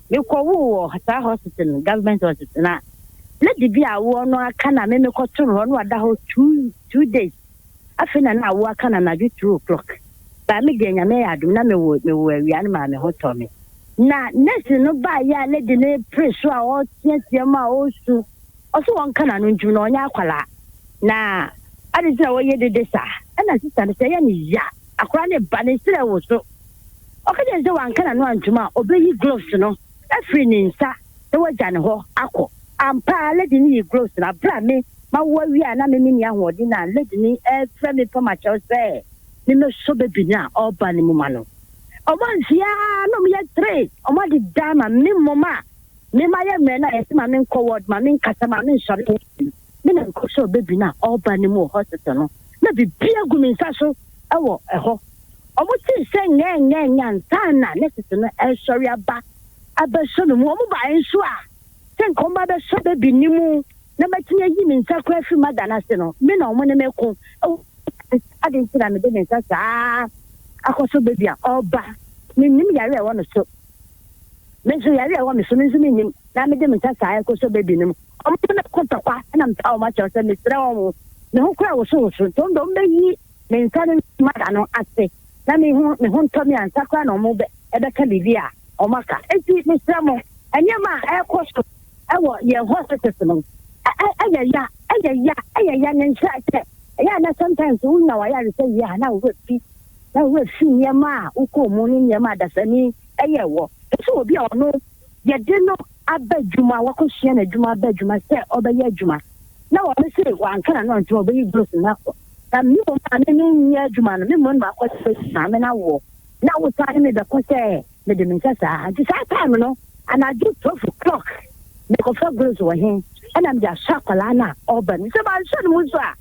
me kɔ woo wɔ saa hospital no government hospital na na dibi a awoɔ no aka na me me kɔ toro hɔ no ada hɔ two two days afei na na awoɔ aka na na adwo two o'clock baa me deɛ nyame yɛ adum na me wo me wo awia no maa me ho tɔ me na nurse no baa yɛ a lady no pere so a ɔteatea mu a ɔsu ɔso wɔn ka na no ntum na ɔnyɛ akwalaa na adi sɛ wɔyɛ dede saa ɛna sista no sɛ yɛ ne ya akora ne ba ne serɛ wo so Ɔka kyerɛɛ no sɛ wanka n'ano antom a, obeyi gloves no afiri ne nsa na wagya ne hɔ akɔ. Ampa ara, lady no yii gloves no. Bere a me, mawo awie a na me menni ahoɔden a lady no refrɛ me fam akyɛw sɛ mimmɛsɔ baby no a ɔreba no mu ma no. Wɔamfeɛ ara na wɔyɛ three, wɔade dan ma me mmom a, me mayɛ mmerɛ no a, yɛse ma menkɔ ward, ma menkasa, ma mensɔre, me na mekɔhwɛɛ baby no a ɔreba no mu wɔ hospital no, na biribiara gu me nsa so wɔ hɔ. Wɔte nhyɛ nyɛɛnyɛɛnyɛ ansa na nurses no resɔre aba abɛsɔ me mu. Wɔbaeɛ nso a, sɛ nka wɔba abɛsɔ baby no mu na matumi ayi me nsa koraa afiri mother no ase no, me na wɔne me reko wɔ hospital no. Adɛn nti na mede me nsa saa akɔsɔ baby a ɔreba? Mennim yare a ɛwɔ no so. Me nso, yare a ɛwɔ me so no nso mennim na mede me nsa saa rekɔsɔ baby no mu. Ɔmo de me kɔ tɔkwa na mepaw ɔmo akyɛw sɛ mesrɛ ɔmo. Me ho koraa woso woso nti ɔmo de ɔmo beyi me nsa ne me moma ano ase na me ho me ho ntɔ me ansa koraa na ɔmo bɛ ɛbɛka biribi a ɔmo aka. Enti mesrɛ mo, nneɛma a ɛrekɔ so ɛwɔ yɛn hospitals no ɛ ɛ ɛyɛ ya, ɛyɛ ya, ɛyɛ ya ne nkyerɛ sɛ ɛyɛ a na sometimes wonya w'ayaresa wie a na wo werɛ fi, na wo werɛ fi nneɛma a wokɔɔ mu ne nneɛma a dasani ɛyɛɛ wɔ. Te sɛ obi a ɔno. yɛde no aba adwuma, wakɔsua n'adwuma aba adwuma sɛ ɔbɛyɛ adwuma, na wɔn se wanka na no nti ɔbɛyi gloves no akɔ. Na me mmom a me no nyɛ adwuma no, me mmom na makɔ sɛ bɛsi maame no awoɔ, na wosan ne me bɛkɔ sɛ mede me nsa saa. Nti saa time no, anadwo 12 o'clock, mekɔfa gloves wɔ he? Ɛna mede ahyɛ akwadaa no a ɔba no mu. Sɛ manhyɛ no mu nso a,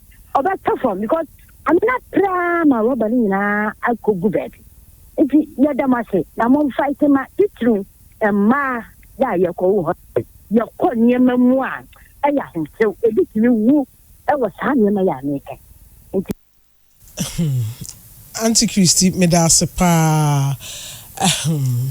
ɔbɛtɔ fam because maame no apere ara ma rɔba no nyinaa akɔgu baabi. Ntsi yɛda mo ase na momfae tema tsitsir mma yɛ a yɛkɔ wo hɔ no. Yɛkɔ nneɛma mu a, ɛyɛ ahomtew. Ebi tumi wu wɔ saa nneɛma yi a mekã yi nti. Ahem. Auntie Christy, meda ase paa. Ahem.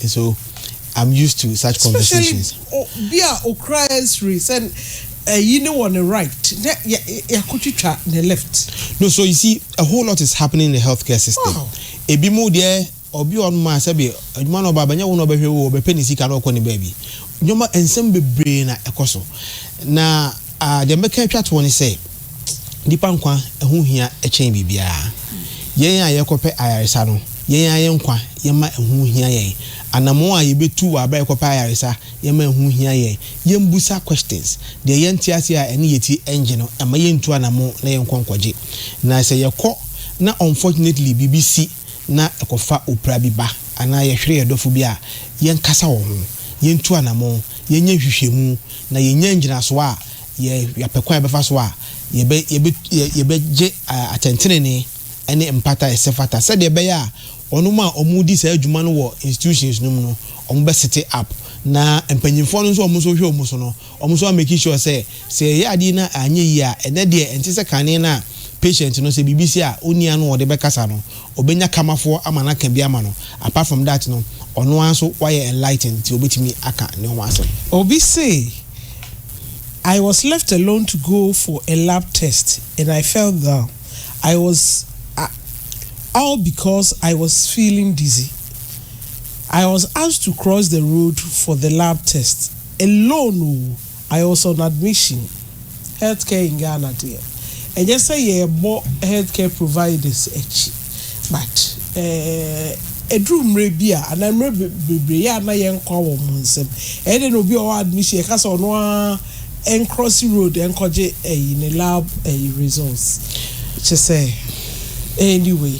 And so I'm used to such conversations. Especially bi a okura X-ray sɛ ɛyi ne wɔ ne right na yɛakɔtwitwa ne left. No, so you see a whole lot is happening in the healthcare system. Wow. Ebi mu deɛ obi a ɔno maa sɛbi adwuma na ɔba abɛnyɛ wo na ɔbɛhwɛ wo ɔbɛpɛ ne sika na ɔkɔ ne baabi. Nneɛma nsɛm bebree na ɛkɔ so na. A Deɛ mɛka atwa toɔ ne sɛ, nnipa nkwa ho hia kyɛn biribiara. Yɛn a yɛrekɔpɛ ayaresa no, yɛn ara yɛn nkwa, yɛmma ɛho nhia yɛn. Anammɔn a yɛbɛtu wɔ aberɛ a yɛrekɔpɛ ayaresa, yɛmma ɛho nhia yɛn. Yɛmmisa questions. Deɛ yɛnte aseɛ a ɛne yɛn ti nnye no, mma yɛntu anammɔn na yɛnkɔ nkɔgye. Na sɛ yɛkɔ na unfortunately biribi si na ɛkɔfa opira bi ba anaa yɛhwere yɛn dɔfo bi a, yɛnkasa wɔ ho. Yɛntu anammɔn. yɛnyɛ nhwehwɛmu na yɛnya ngyinasoɔ a yɛapɛ kwan a yɛbɛfa so a yɛbɛ yɛbɛ yɛbɛgye atɛntenenee ne mpata a ɛsɛ fata sɛdeɛ ɛbɛyɛ a wɔnom a wɔredi saa adwuma no wɔ institutions no mu no wɔbɛ sete up na mpanyinfoɔ no nso a wɔn nso hwɛ wɔn so no wɔn nso a make sure sɛ Sɛ yɛyɛ adeɛ na anyɛ yie a, ɛnɛ deɛ ɛnte sɛ kane no a patient no sɛ biribi si a ɔnni ano a ɔde bɛkasa no, ɔbɛnya kamafoɔ ama no aka bi ama no. Apart from that no, ɔno ara nso wayɛ enlightened nti ɔbɛtumi aka ne ho asɛm. Obi se, I was left alone to go for a lab test and I fell down, I was a all because I was feeling dizzy. I was asked to cross the road for the lab test, alone oo, I was on admission, health care in Ghana deɛ ɛnyɛ sɛ yɛbɔ health care providers akyi but eh, ɛduru mmerɛ bi a anaa mmerɛ bebree yɛ a na yɛn nkwa wɔ wɔn nsam. Ɛyɛ dɛ na obi a ɔwɔ admission yɛka sɛ ɔno ara ɛncross road ɛnkɔgye ɛyi ne lab ɛyi results kyɛ sɛ anyway.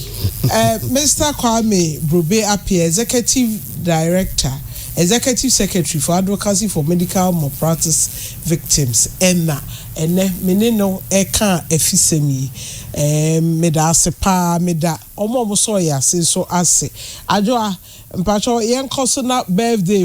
Eh, Mister Kwame Brobe Appiah, Executive Director, Executive Secretary for Advocacy for Medical Malpractice Victims na ɛnnɛ me ne no reka afisɛm yi. Meda ase paa. Meda wɔn a wɔsɔɔ yɛn ase nso ase. Adwoa, mpakyɛw yɛnkɔ so na birthday.